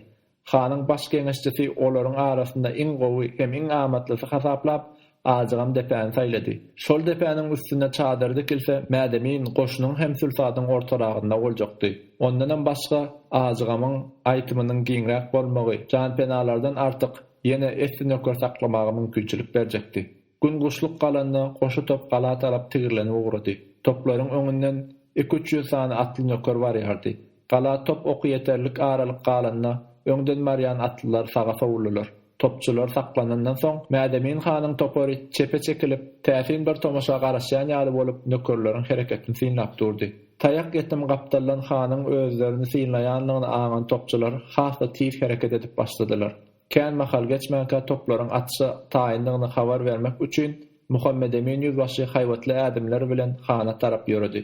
Hanyň baş geňeşçisi olaryň arasynda iň gowy hem iň amatlysy hasaplap, Ajygam depäni saýlady. Şol depäniň üstünde çadyr dikilse, Mädemin goşunyň hem sülsadyň ortaragynda boljakdy. Ondanam başga, Ajygamyň aýtymynyň giňräk bolmagy janpenalardan artyk ýene esli nöker saklamaga mümkinçilik berjekdi. Gün guşluk galanda, goşa top gala tarap tigirlenip ugrady. Toplaryň öňünden iki-üç ýüz sany atly nöker barýardy. Gala top oky ýeterlik aralyk galanda, öňden barýan atlylar saga sowuldylar. Topçular saklanandan soň, Mädemin hanyň topary çepe çekilip, täsin bir tomaşa garaşýan ýaly bolup, nökerleriň hereketini synlap durdy. Taýak ýetim gapdaldan hanyň özlerini synlaýanlygyny aňan topçular has-da tiz hereket edip başladylar. Kän mahal geçmänkä toplaryň atyşa taýyndygyny habar bermek üçin Muhammedemin ýüzbaşy haýbatly ädimler bilen hana tarap ýöredi.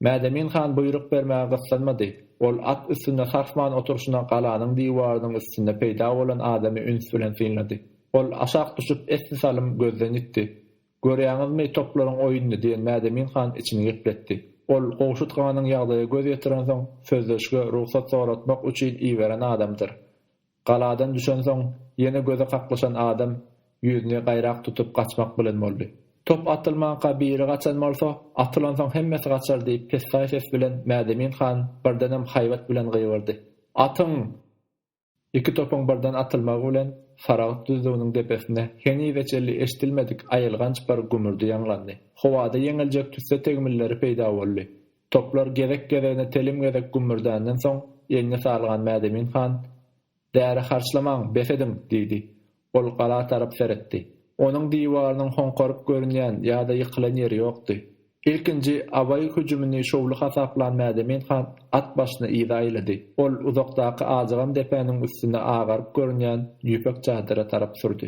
Mädemin han buýruk bermäge gyssanmady. Ol at üstünde sarsman oturyşyna galanyň diwarynyň üstünde peýda bolan adamy üns bilen synlady. Ol aşak düşüp esli salym gözden ýitdi. Görýäňizmi, toplaryň oýnuny, diýen Mädemin han içini gepletdi. Ol Gowşut ganyň ýagdaýa göz ýetirensoň, sözleşige rugsat soratmak üçin iberen adamdyr. Galadan düşensoň, ýene göze kaklyşan adam ýüzüni gaýrak tutup gaçmak bilen boldy. Top atylmanka biri gaçan bolsa, atylansoň hemmesi gaçar diýip pessaý ses bilen Mädemin han birdenem haýbat bilen gygyrdy. Atyň! Iki topuň birden atylmagy bilen Saragyt düzlüginiň depesinde henize çenli eşidilmedik aýylganç bir gümürdi ýaňlandy. Howada ýeňiljek tüsse tegmilleri peýda boldy. Toplar gezek-gezegine telim gezek gümmürdänden soň, elini salgan Mädemin han, Däri harçlamaň, bes ediň! diýdi. Ol gala tarap seretdi. Onuň diwarynyň hoňkaryp görünýän ýa-da ýykylan ýeri ýokdy. Ilkinji Abaý hüjümini şowly hasaplan Mädemin han at başyny yza aýlady. Ol uzakdaky ajygam depäniň üstünde agaryp görünýän ýüpek çadyra tarap sürdi.